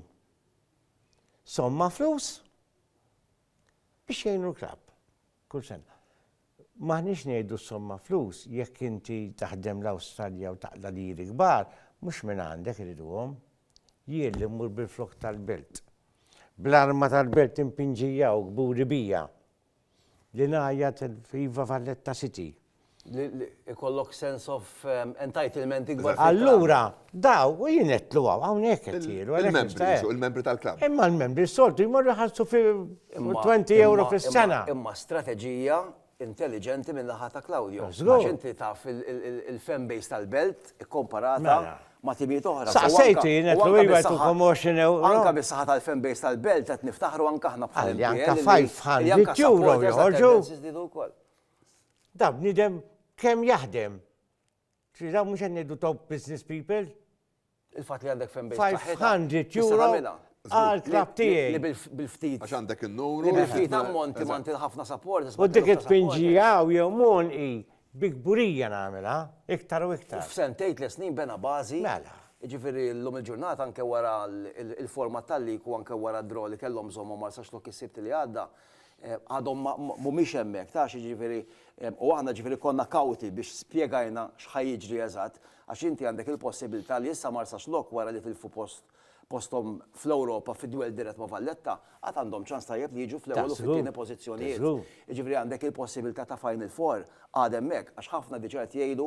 somma flus biex jgħinu l-klab kull sena. M'aħniex ngħidu somma flus, jekk inti taħdem l-Awstralja u taqla' liri kbar, mhux minn għandek iriduhom. Jien li mmur bil-flokk tal-belt, bl-arma tal-belt impinġija u kburi bija, li ngħajjat Viva Valletta City. Li ikollok sense of entitlement ikbar. Allura, Daw, u jien qed tluwaw, hawnhekk qed jielu. Il-membri, il-membri tal-klabb. Imma l-membri soltu jmorru jħallsu fi 20 euro fis-sena. Imma strateġija intelligenti minn naħa ta' Claudio. Għax inti taf il-fan base tal-belt ikkomparata mela. ma' timijiet oħra. Saqsejtu jien qed tluwi għal 20 euro. Anka bis-saħħa tal-fan base tal-belt qed niftaħru anka aħna bħal. Anka 500 euro joħorġu. Da bniedem kemm jaħdem Trid hawn mhux qed ngħidu top business people. Il-fatt li għandek fan base b'saħħitha. 500 euro għal klabb tiegħi. Bil-ftit. Għax għandek in-numru. Bil-ftit ammonti ma inti ħafna supporters. U dik it-tpinġija hawn jew mon hi bi kburija nagħmilha iktar u iktar. F'sent tgħid li snin bena bażi. Mela. Jiġifieri llum il-ġurnata anke wara l-format tal-lig u anke wara d-draw li kellhom bżonnhom għal sax lok is-Sibt li għadda, għadhom ma mhumiex hemmhekk, tarax jiġifieri u aħna jiġifieri konna kawti biex spjegajna x'ħa jiġri eżatt għax inti għandek il-possibilità li issa Marsaxlokk wara li tilfu post posthom fl-Ewropa fid-dwell dirett ma' Valletta għad għandhom ċans tajjeb li jiġu fl-ewwel u fit-tieni pożizzjonijiet. Jiġifieri għandek il-possibilità ta' Final Four għad hemmhekk għax ħafna diġà qed jgħidu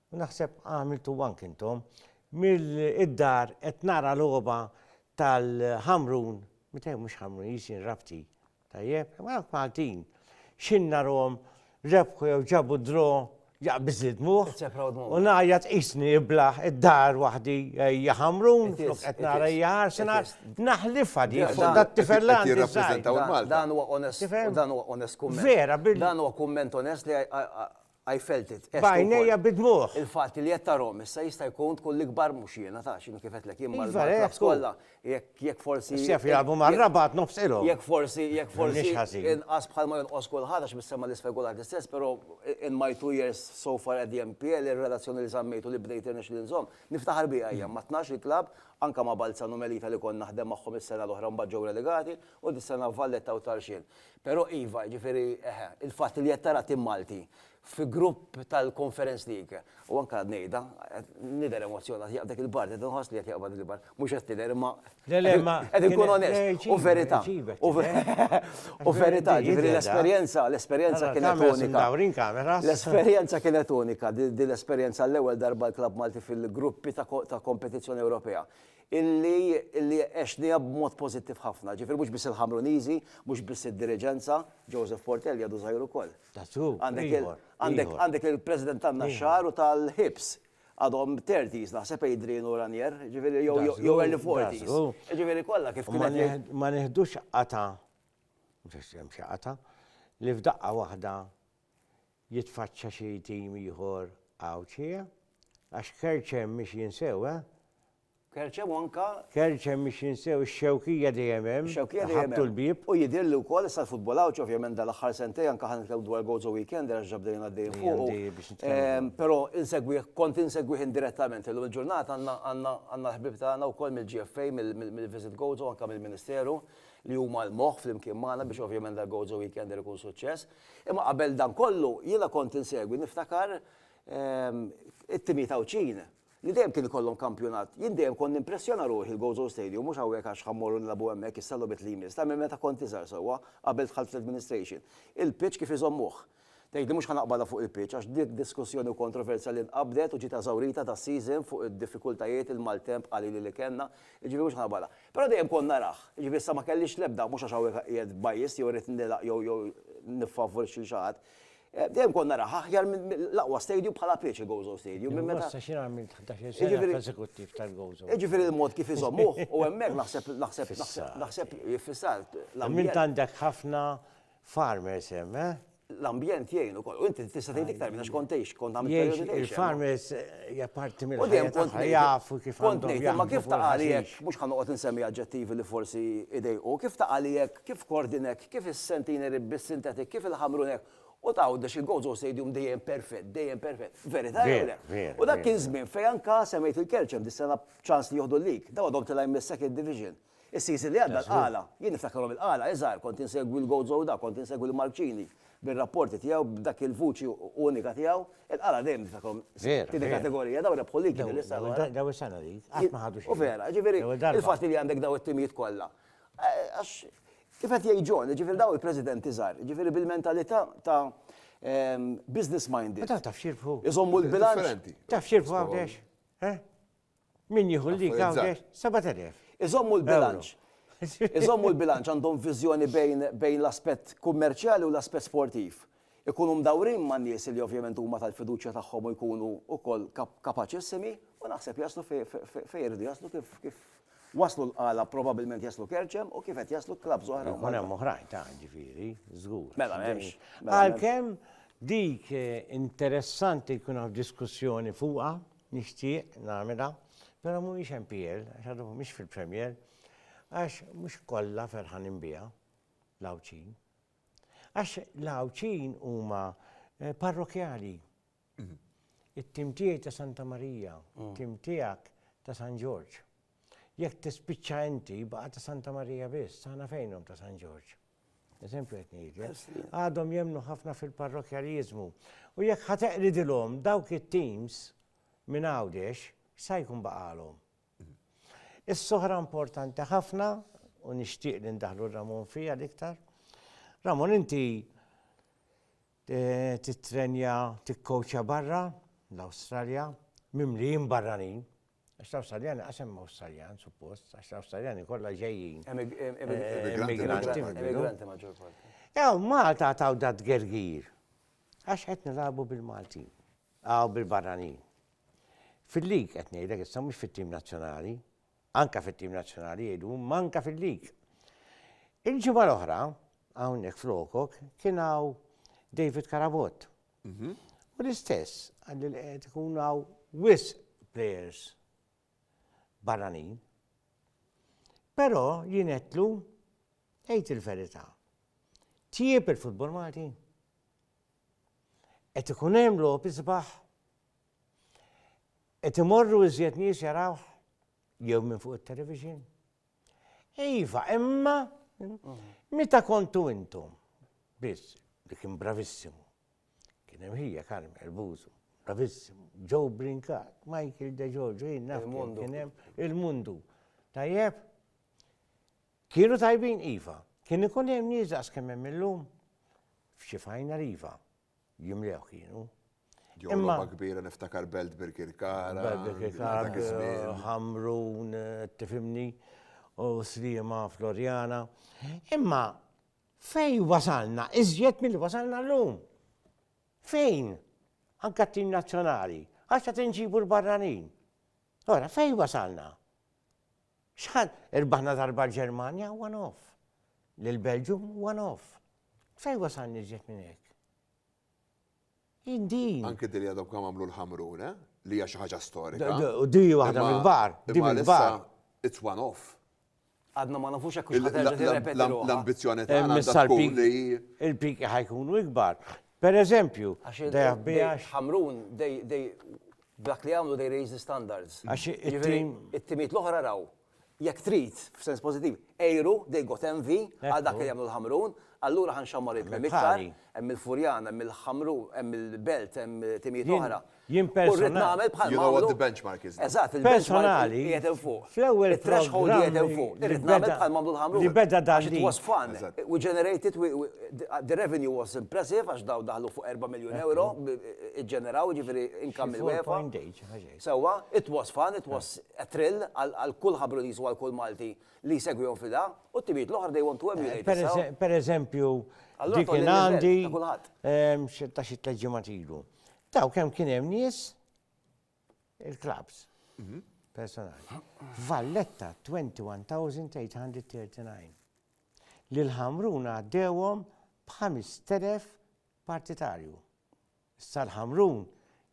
U naħseb għamiltu anke intom. Mill-dar qed nara logħba tal-Ħamrun, meta mhux Ħamrun, jisin Rabti. Tajjeb, ma dawk Maltin. X'in narhom rebħu jew ġabu d-dro jaqbiż id-dmugħ. U ngħajjat qisni iblaħ id-dar waħdi hija Ħamrun, flok qed nara hija Arsenal. Naħlifha di fuq dat-tifel li għandi żgħir. Dan huwa onest. Dan huwa onest kumment. Vera, bil. Dan huwa kumment onest li I felt it, għedt ukoll. B'għajnejja bid-dmugħ. Il-fatt li għedt ta' Rome issa jista' jkun tkun l-ikbar mhux jiena ta' x'inhu kif għedtlek jien mal-Iva, hekk hu. mal-clubs kollha jekk jekk forsi Issa jaf jilagħbu mar-Rabat nofs ilhom. jekk forsi jekk forsi M'iniex ħażin. inqas bħal ma jonqos kulħadd għax mis-sema 'l isfel kulħadd l-istess però in my two years so far at the NPL ir-relazzjoni li żammejt u li bdejt irnexxieli nżomm niftaħar biha hija ma' tnax il club anke ma' Balzan u Melita li kont naħdem magħhom is-sena l-oħra u mbagħad ġew relegati u dis-sena Valletta u Tarxien. Però iva, jiġifieri, eħe, il-fatt li qed tara tim Malti fi grupp tal-Conference League, u anke għad ngħidha, nidher emozzjonat, jaqbad dik il-parti, qed inħoss li qed jaqbad dik il-parti, mhux qed tidher imma qed inkun onest, u verità, u verità, jiġifieri l-esperjenza, l-esperjenza kienet unika, l-esperjenza kienet unika, din l-esperjenza għall-ewwel darba l-klabb Malti fil-gruppi ta' kompetizzjoni Ewropea. illi illi għexniha b'mod pożittiv ħafna. Ġifieri mhux biss il-Ħamruniżi, mhux biss id-diriġenza, Joseph Portelli għadu żgħir ukoll. That's true, ieħor. Għandek għandek il-President tan-Naxxar u tal-Hibs. Għadhom thirties naħseb Adrian u Ranier, ġifieri jew jew jew early forties. That's true. Jiġifieri kollha kif kien qed jgħid. Ma nieħdux qatgħa, mhux għax hemm xi qatgħa, li f'daqqa waħda jitfaċċa xi tim ieħor Għawdxi, eh? Għax Kerċem mhix jinsew, eh? Kerċem u anka. Kerċem mhix jinsew, ix-Xewkija dejjem hemm. Ix-Xewkija dejjem. Ħabtu l-bieb. U jidhirli wkoll issa l-futbol Għawdxi ovvjament dal-aħħar sentej anka ħan nitkellmu dwar Gozo Weekend għax ġabdejn għaddejn fuq. Però insegwih, kont insegwih indirettament illum il-ġurnata għandna l-ħbib tagħna wkoll mill-GFA, mill-Visit Gozo anka mill-Ministeru li huma l-moħħ flimkien magħna biex ovvjament dal-Gozo Weekend ikun suċċess. Imma qabel dan kollu jiena kont insegwi, niftakar, it-timijiet Għawdxin li dejjem kien ikollhom kampjonat. Jien dejjem kont nimpressjona ruħi l-Gozo Stadium mhux hawnhekk għax ħa mmorru nilagħbu hemmhekk issa logħbiet li jmiss, ta' minn meta kont iżgħar sewwa, qabel dħalt fl-administration. Il-pitch kif iżommuh. Tgħidli mhux ħa naqbadha fuq il-pitch għax dik diskussjoni u kontroversja li nqabdet u ġiet eżawrita das-season fuq id-diffikultajiet, il-maltemp qalili li kellna, jiġifieri mhux ħa naqbadha. Però dejjem kont narah. Jiġifieri issa ma kellix l-ebda, mhux għax hawnhekk qiegħed biased jew irrid nilgħaq jew jew niffavorixxi lil xi ħadd. Dejjem kont narah aħjar minn l-aqwa stadium bħala pitch il-Gozo Stadium minn meta. Imma jiena għamilt ħdax-il sena fl-eżekuttiv tal-Gozo. Jiġifieri l-mod kif iżommuh u hemmhekk naħseb naħseb naħseb naħseb iffissat l-ambjent. Tant għandek ħafna Farmers hemm, eh? L-ambjent jgħin ukoll. U inti tista' tgħid iktar minn għax kont tgħix, kont għamilt Jgħix perjodi tgħix. il-farmers hija parti U dejjem mill-ħajja kont tagħha, ngħid- jafu kif Kont għandhom ngħid, imma jaħdmu kif fuq ta' għalihekk, il-ħaxix. mhux ħa noqgħod insemmi aġġettivi li forsi jdejqu, kif ta' għalihekk, kif Kordinek, kif is-Centenary Rib bis-Synthetic, kif il-Ħamrunek, u ta' Għawdex il-Gozo Stadium dejjem perfett, dejjem perfett. Verità jew Veru, le? veru, U dak kien veru. żmien fejn anka semmejt il-Kelċem dis-sena b'ċans li jieħdu l-league. Dawn għadhom tilgħin mis-second division. Is-season li għadda l-Qala, jien niftakarhom il-Qala, iż-żgħar, kont insegwi l-Goat Zowda, kont insegwi lil Mark Cini bir-rapporti tiegħu b'dak il-vuċi unika tiegħu, il-Qala dejjem niftakarhom tieni kategorija, dawn rebħu l-ligi din is-sena l-oħra. Dawn is-sena li qatt ma ħadu xejn. U vera, jiġifieri il-fatt li għandek dawn it-timijiet kollha. Għax kif qed jgħid John, jiġifieri dawn il-presidenti żgħar, jiġifieri bil-mentalità ta' business minded. Ma taf taf x'jirbħu. Iżommu l-bilanċ. Taf x'jirbħu Għawdex? Min jieħu l-leak hawn għex 7,000. Iżommu l-bilanċ. Iżommu l-bilanċ, għandhom viżjoni bejn bejn l-aspett kummerċjali u l-aspett sportiv. Ikunu mdawrin ma' nies li ovvjament huma tal-fiduċja tagħhom u jkunu wkoll kapaċissimi u naħseb jaslu fi fi fejn iridu jaslu kif kif waslu l-Qala probabilment jaslu Kerċem u kif qed jaslu clubs oħra. Ikun hemm oħrajn ta' ġifieri, żgur. Mela m'hemmx. Għalkemm dik interessanti jkun hawn diskussjoni fuqha, Nixtieq nagħmilha, però mhumiex MPL għax għadhom mhumiex fil-Premier, għax mhux kollha ferħanin biha, l-Għawdxin. Għax l-Għawdxin huma eh, parrokjali. It-tim tiegħi ta' Santa Marija, tim tiegħek ta' San Ġorġ. Jekk tispiċċa inti jibqa' ta' Santa Marija biss, aħna fejnhom ta' San Ġorġ? Eżempju qed ngħidlek. Għadhom jemmnu ħafna fil-parrokjaliżmu. U jekk ħa teqridilhom dawk it-teams minn Għawdex, x'sa jkun baqagħlhom? Issa oħra importanti ħafna u nixtieq li ndaħlu Ramon fiha l-iktar. Ramon inti eh, titrenja tikkowċa barra l-Awstralja mimlijin barranin Għax l-Awstraljani qas hemm Awstraljan, suppost, għax l-Awstraljani kollha ġejjin. Immigranti. Immigranti maġġor parti. Ew, Malta taw dat gergir. Għax qed nilagħbu bil-Maltin. Aw bil-barranin. Fil-lig qed ngħidlek issa mhux fit-tim nazzjonali. Anka fit-tim nazzjonali jgħidu manka fil-lig. Il-ġimgħa l-oħra, hawnhekk flokok, kien hawn David Karabot. U l-istess għal li qed ikun hawn wisq players barranin. Però jien qedlu għid il-verità. Tjieb il-futbol Malti. Qed ikun hemm logħob isbaħ. Qed imorru iżjed nies jarawh jew minn fuq it-television. Iva, imma meta kontu intom biss li kien bravissimu. Kien hemm ħija Carmen Elbuzu, bravissimu, Joe Brincat, Michael De Giorgio, jien naf kien hemm il-mundu. Tajjeb? Kienu tajbin iva. Kien ikun hemm nies daqs kemm hemm illum? F'xi fajna iva. jimlewh kienu. Ġew Imma- logħba kbira niftakar Belt Birkirkara. Belt Birkirkara, dak iż-żmien. Ħamrun, tifhimni, u Sliema, Floriana. Imma fejn wasalna iżjed milli wasalna llum? Fejn? Anke t-tim nazzjonali, għax qed inġibu l-barranin. Ora, fejn wasalna? Xħan, irbaħna darba l-Ġermanja one off, l-Belġum one off, Fejn wasalna iżjed minn hekk? Jien din. Anke din li għadhom kemm għamlu l-Ħamrun, eh? Li hija xi ħaġa storika. Din hi waħda mill-kbar. Din mill-kbar. It's one off. Għadna ma nafux hekk hux ħaġa li rrepeti ruħha. L-ambizzjoni tagħna għandha tkun li. Il-piki ħajkunu ikbar. Per eżempju, dejja bijax. Ħamrun, dej, dej, dak li għamlu dej raise the standards. Għax it-tim. It-timiet l-oħra raw. Jekk trid, f'sens pożittiv, għeru, they got envy, għal dak li jagħmlu l-Ħamrun, allura ħa nxammar il-Prim Minister, hemm il-Furjana, hemm il-Ħamrun, hemm il-Belt, hemm timijiet oħra. Jien personali. You know what the benchmark is. Eżatt, il-benchmark qiegħed hemm fuq. Fl-ewwel threshold qiegħed hemm fuq. Irrid nagħmel bħal ma għamlu l-Ħamrun. Li beda dan li. Għax it was fun. We generated, the revenue was impressive għax daw daħlu fuq 4 miljun euro, iġġeneraw, jiġifieri income mill-UEFA. Sewwa, it was fun, it was a thrill għal kull ħabruniż u għal kull Malti li jsegwihom f'idha, u t-timijiet l-oħra they want to emulate this how. Pereżempju, dik kien għandi ta' xi tliet ġimgħat ilu. Taw kemm kien hemm nies il-klabs personali. Valletta 21,839. Lil Ħamrun għaddewhom b'5,000 partitarju. Is-Sar Ħamrun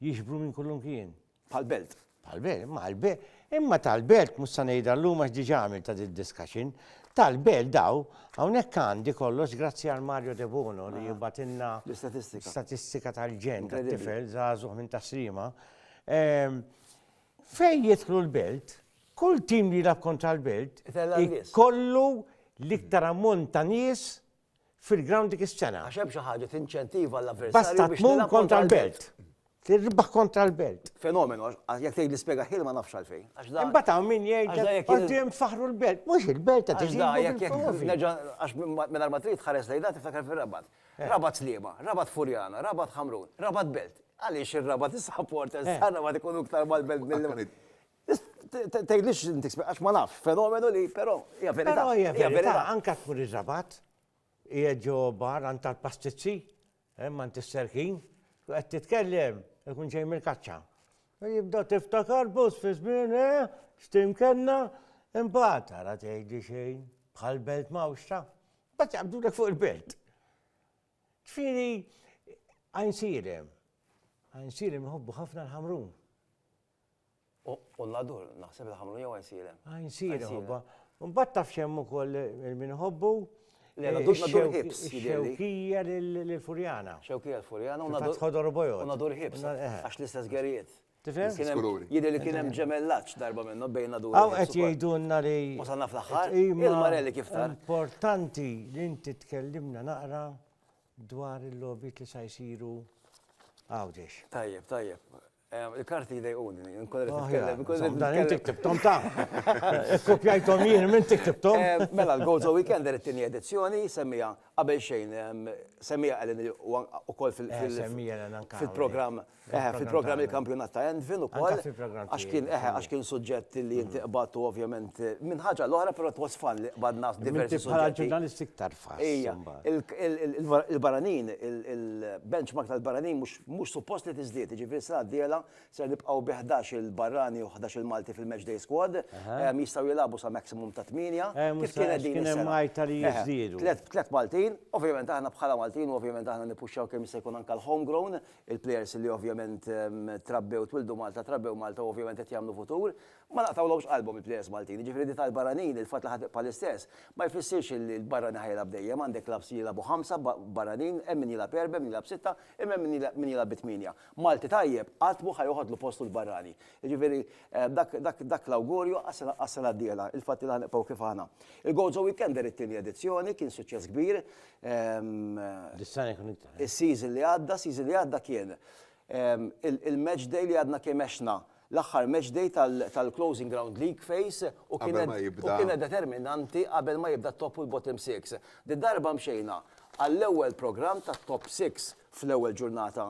jixbru minn kullimkien. Bħall-belt. Bħall-belt, imma għall-be, imma tal-belt mhux se ngħidha llum għax diġà għamilt ta' did-discussion. Tal-belt daw, hawnhekk għandi kollox grazzi għal Mario Debono li jibgħatilna L-istatistika. statistika tal-ġen tat-tifel żagħżugħ minn Tas-Sliema. Ehm, Fejn jidħlu l-belt, kull tim li jilgħab kontra l-belt Itella' n-nies. ikollu l-iktar ammont ta' nies fil-grawnd dik is-sena. Għax hemm xi ħaġa tinċentiva l-avversarju biex tmur kontra l-belt. Tirbaħ kontra l-belt. Fenomenu, jekk tgħid l-ispjega ħin ma nafx għalfejn. Imbagħad hawn min jgħid qudiem faħru l-belt. Mhux il-belt qed iżid. Għax minn ma trid ħares lejn dak tiftakar fir-rabat. Eh. Rabat Sliema, Rabat Furjana, Rabat Ħamrun, Rabat Belt. Għaliex ir-rabat is-sapport, ir-rabat ikunu iktar mal-belt mill Tgħidlix inti għax ma nafx, fenomenu li però hija verità. Però hija verità, anke tmur ir-Rabat, qiegħed ġo bar għand tal-pastizzi, hemm għand is-serħin, u qed titkellem, ikun ġej mill-kaċċa. Jibda tiftakar bus fi żmien, eh, x'timkenna, imbagħad ara tgħidi xejn, bħal belt mawxta, bat jaqbdulek fuq il-belt. Ġifieri għajnsirem, għajnsirem jħobbu ħafna l-ħamrun. U l-adur, naħseb li ħamlu jew għajnsieren. Għajnsieren ħobba. Mbagħad taf x'hemm ukoll il-min ħobbu. Xewkija l-Furjana. Xewkija l-Furjana. Fatt ħodor u bojod. U nadur ħibs. Għax l-istess gerijiet. Tifhem? Jidher li kien hemm ġemellaġġ darba minnhom bejn nadur. Hawn qed jgħidulna li. Wasalna fl-aħħar. Il-marelli kif tar. Importanti li inti tkellimna naqra dwar il-logħbiet li sa jsiru għawdex. Tajjeb, tajjeb. Il-karti jdejquni, nkun qed nitkellem, nkun qed Dan inti ktibthom ta. Kopjajthom jien, minn inti ktibthom. Mela l-Gozo Weekender it-tieni edizzjoni semmiha qabel xejn, semmiha Ellen ukoll fil- Eh, semmiha Ellen anke hawn. Fil-programm, eħe, fil-programm il-kampjonat ta' Envin ukoll. Anke fil-programm tiegħi. Għax kien, eħe, għax kien suġġett li inti qbadt u ovvjament minn ħaġa għal oħra, però it was fun li qbadna diversi suġġetti. Inti bħala ġurnalist iktar tfass. Ejja, il-barranin, il-benchmark tal-barranin mhux Mhux suppost li tiżdied, jiġifieri s-sena d-dieħla ser nibqgħu bi ħdax-il barrani u ħdax-il Malti fil-Match Day Squad, jistgħu jilagħbu sa maximum ta' tmienja, kif kienet din is-sena. Tliet Maltin, ovvjament aħna bħala Maltin u ovvjament aħna nippuxxaw kemm jista' jkun anke l-home grown, il-plejers li ovvjament trabbew, twildu Malta, trabbew Malta u ovvjament qed jagħmlu futur, Ma naqtgħulhomx qalbhom il-plejers Maltin, jiġifieri di tal-barranin, il-fatt li ħa tibqa' l-istess, ma jfissirx li l-barrani ħa jilgħab dejjem, għandek clubs li jilgħabu ħamsa barranin, hemm min jilgħab erbgħa, hemm min jilgħab sitta, imma hemm min jilgħab bi tmienja. Malti tajjeb qatt mhu ħa joħodlu postu l-barrani. Jiġifieri dak dak l-awgurju għas-sena d-dieħla, il-fatt li ħa nibqgħu kif aħna. Il-Go Zo Weekender it-tieni edizzjoni kien suċċess kbir. Dis-sena jkun iktar. Is-season li għadda, season li għadda kien il-match day li għadna kemm għexna L-aħħar match day tal-Closing Ground League phase u kienet determinanti qabel ma jibda t-Top u l-Bottom Six. Didarba mxejna għall-ewwel programm tat-Top Six fl-ewwel ġurnata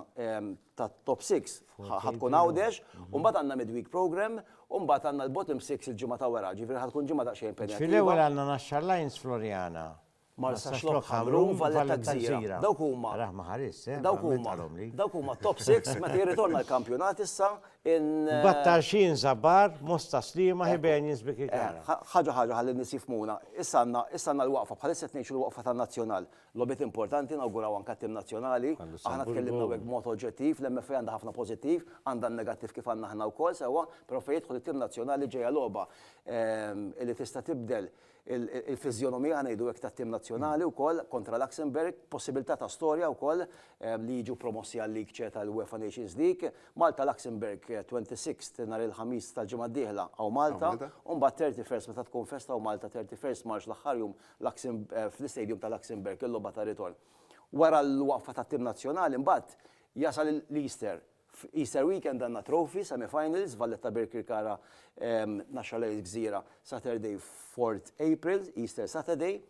tat-Top Six ħa tkun Għawdex u mbagħad għandna midweek programme u mbagħad għandna l-Bottom Six il-ġimgħa ta' wara, ġifieri ħa tkun ġimgħa daqsxejn impenjattiva. Fil-ewwel għandna Naxxar Lions Floriana Marsaxlokk, Ħamrun, Valle ta' Gżira. Dawk huma, dawk huma, dawk huma t-top six meta jirritorna l-kampjonat issa in. Battarxin, Żabar, Mosta, Sliema, Hibenius, Bikikara. Ħaġa ħaġa ħalli n-nies jifhmuna. Issa għandna, issa għandna l-waqfa, bħalissa qed ngħixu l-waqfa tan-Nazzjonal. Logħbiet importanti, nawguraw anke għat-tim Nazzjonali. Aħna tkellimna hawnhekk b'mod oġġettiv, l-MFA għandha ħafna pożittiv, għandha n-negattiv kif għandna aħna wkoll sewwa, però fejn jidħol it-tim Nazzjonali ġejja logħba li tista' tibdel il-fiżjonomija, ngħidu hekk, tat-tim nazzjonali wkoll kontra Luxembourg, possibilità ta' storja wkoll li jiġu promossi għal-League Ce tal-UEFA Nations League. Malta Luxembourg 26th nhar il-Ħamis tal-ġimgħa d-dieħla hawn Malta, u mbagħad 31st meta tkun festa hawn Malta 31st March l-aħħar jum fl-istadium ta' Luxembourg il-logħba tar-ritorn. Wara l-waqfa tat-tim nazzjonali mbagħad jasal l-Easter F'Easter Weekend għandna Trophy, Semi-Finals, Valletta Birkirkara, Naxxar Lions Gżira, Saturday 4th April, Easter Saturday.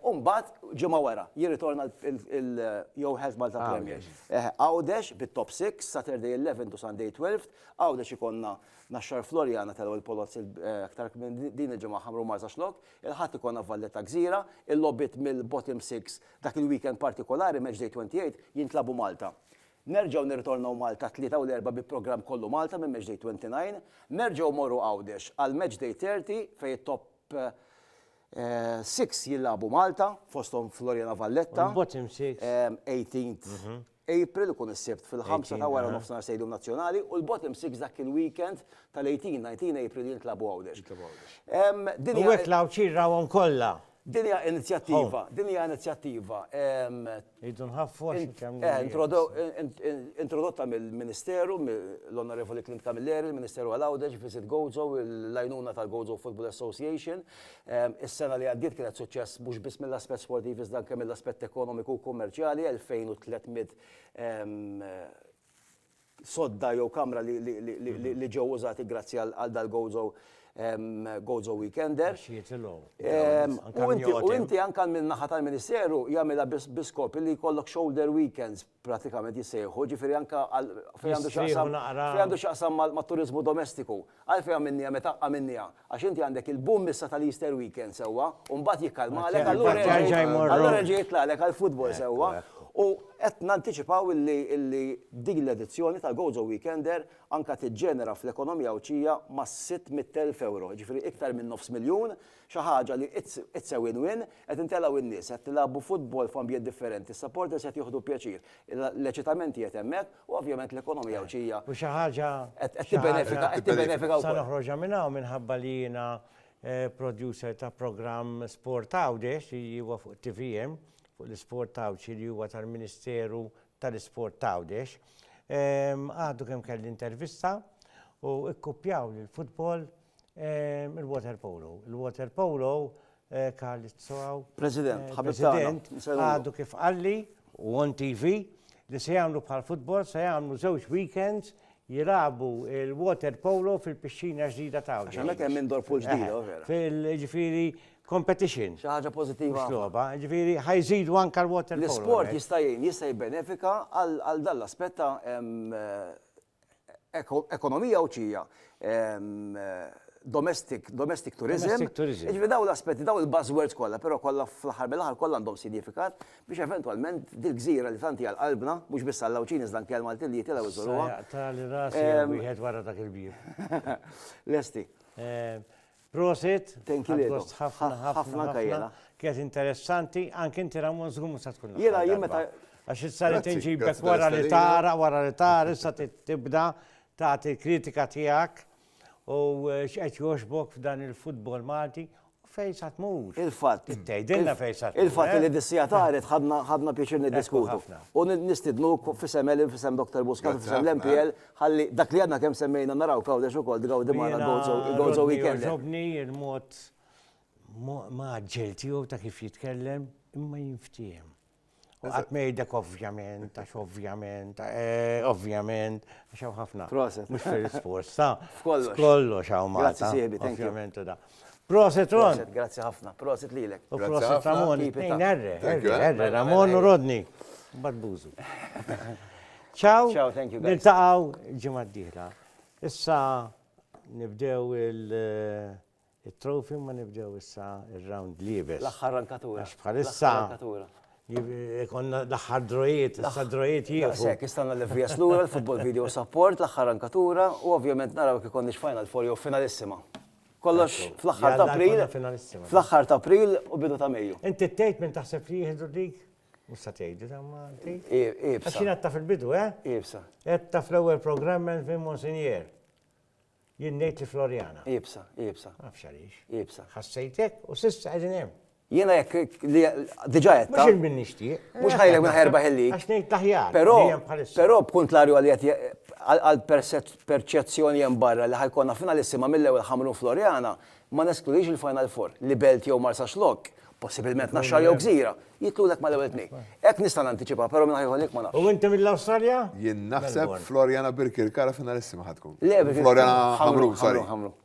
U mbagħad ġimgħa wara, jirritorna il-Yo Health Malta Premier. Għawdex bit-Top 6, Saturday 11th u Sunday 12th, Għawdex ikollna Naxxar Floriana telgħu il-Polozzi aktar kmieni din il-ġimgħa Ħamrun Marsaxlokk, il-Ħadd ikollna Valletta Gżira, il-logħbiet mill-Bottom Six dak il-weekend partikolari, Matchday 28, jintlagħbu Malta. Nerġgħu nirritornaw Malta t-Tlieta u l-Erbgħa bi programm kollu Malta minn Matchday 29. Nerġgħu mmorru Għawdex għal Matchday 30 fejn it-top six jilagħbu Malta, fosthom Floriana Valletta. U l-bottom six? 18th April, ikun is-Sibt fil-ħamsa ta' wara nofsinhar Stadium Nazzjonali, u l-bottom six dak il-weekend tal-18, 19 April jintlagħbu Għawdex. U hekk l-Għawdxin rawhom kollha. Din hija inizjattiva, din hija inizjattiva. Irridu nħaffu għax intemmu. Introdotta mill-Ministeru, mill-Onorevoli Clint Camilleri, il-Ministeru għal Għawdex, Visit Gozo, l-għajnuna tal-Gozo Football Association. Is-sena li għaddiet kienet suċċess mhux biss mill-aspett sportiv iżda anke mill-aspett ekonomiku u kummerċjali, 2,300 sodda jew kamra li ġew użati grazzi għal dal-Gozo Gozo Weekender. Għax jitilgħu. U inti u inti anke minn naħa tal-Ministeru jagħmilha bi skop li jkollok shoulder weekends pratikament jissejħu, ġifieri anke għal fejn għandu x'jaqsam fejn għandu x'jaqsam mat-turiżmu domestiku. Għalfejn għamilniha meta għamilniha? Għax inti għandek il-boom issa tal-Easter weekend, sewwa, u mbagħad jikkalmalek allura jerġa' jitlagħlek għall-futbol, sewwa, u qed nantiċipaw illi din l-edizzjoni tal-Gozo Weekender anke tiġġenera fl-ekonomija Għawdxija mas-600,000 ewro, jiġifieri iktar minn nofs miljun, Xi ħaġa li it's a win win, qed intelgħu in-nies, qed nilagħbu futbol f'ambjent differenti, is-supporters qed jieħdu pjaċir, l-eċitament qiegħed hemmhekk u ovvjament l-ekonomija Għawdxija qed tibbenefika, qed tibbenefika wkoll. Sa noħroġha minn hawn minħabba li jiena producer ta' programm Sport Għawdex li huwa fuq tvm, fuq l-isport Għawdxi li huwa tal-Ministeru tal-Isport t'Għawdex. Għadu kemm kelli intervista u kkuppjaw lill-futbol Il-water polo. Il-water polo Carlizzo għaw. President, ħabib tagħna. President, għadu kif qalli u on TV li se jagħmlu bħal futbol se jagħmlu żewġ weekends jilabu il-water polo fil-pixxina ġdida ta' Għax hemmhekk hemm indoor pool ġdida, eh, vera. Fil-ġifieri competition. Xi ħaġa pożittiva. Xloba, ġifieri ħajżidu anke l-water polo. L-isport jista' jgħin, jista' jibbenefika għal dall-aspett ta' ekonomija Għawdxija, domestic domestic tourism. Domestic tourism. Jiġifieri dawn l-aspetti, dawn il-buzzwords kollha, però kollha fl-aħħar mill-aħħar kollha għandhom sinifikat biex eventwalment dil-gżira li tant hija l-qalbna, mhux biss għall-Għawdxin iżda anke għall-Maltin li jitilgħu jżuruha. Issa jaqtagħli rasi wieħed wara dak il-bieb. Lesti. Prosit, Thank you għad lilkom. gost ħafna Ħa- ħafna ħafna anka ħafna. jiena. Kienet interessanti, anke inti Ramon żgur mhux se tkun Jiena l-aħħar jien darba. meta- Għax issa li Grazzi, tinġibek grazzi wara li tal-istedina. tara, wara li tara, issa ti- tibda tagħti l-kritika tiegħek u eh, x'qed jogħġbok f'dan il-futbol Malti u fejn sa tmur. Il-fatt. Tgħidilna il- fejn sa tmur. Il-fatt eh? li dissija taret ħadna ħadna pjaċir niddiskutu. ħafna. U nid- nistidnuk fisem Elin, fisem Dr. Buscat, Grazzi fisem ħafna. l-MPL Ħalli dak li għadna kemm semmejna naraw f'Għawdex ukoll, tgawdi magħna l-Gozo Weekend. Jiena Rodney jogħġobni l-mod mgħaġġel tiegħu ta' kif jitkellem, imma jinftiehem. U qatt ma jgħidlek ovvjament, għax ovvjament, eh, ovvjament, għax hawn ħafna. Proset. Mhux fir-risposta. F'kollox. F'kollox hawn Malta. Grazzi sieħbi, thank you. Ovvjament u da. Proset Ron. Proset, grazzi ħafna. Proset lilek. U proset Ramon, it-tnejn erre, erre, erre, Ramon u Rodney. Bad buzu. Ciao. Ciao, thank you. Niltaqaw ġimgħa d-dieħla. Issa nibdew il- eh, il-trofi ma nibdew issa il-round libes. L-axħar rankatura. Bħalissa. Konna l-axħar drojiet, issa drojiet jieħu. Sekk, istanna l-levrija slura, l-football video support, l-axħar rankatura, u ovvjament naraw kikon nix final for jew finalissima. Kollox fl-aħħar ta' April, fl-aħħar ta' April u bidu ta' Mejju. Inti tgħid minn taħseb li jieħdu dik? Mhux sa tgħidu ta' ma tgħid. Ibsa. Xi ta' fil-bidu, eh? Ibsa. Qed ta' fl-ewwel programm minn fin Monsinjer. Jien ngħid li Floriana. Ibsa, ibsa. Nafx għaliex. Ibsa. Ħassejtek u s'issa qegħdin hemm. Jiena jekk li diġà għedtha. Mhux il-min nixtieq. Mhux ħajrek minn ħajrbaħ il-lig. Għax ngħid l-aħjar. Però, però b'kuntrarju għal li qed għall-perċezzjoni hemm barra li ħa jkollna finalissima mill-ewwel Ħamrun Floriana, ma neskludix il-Final Four, li Belt jew Marsaxlokk, possibilment Naxxar jew Gżira, jitlulek mal-ewwel tnejn. Hekk nista' nantiċipa, però min ħa jieħu l-lig ma nafx. U inti mill-Awstralja? Jien naħseb Floriana Birkirkara finalissima ħa tkun. Le, Birkirkara. Floriana Ħamrun, sorry.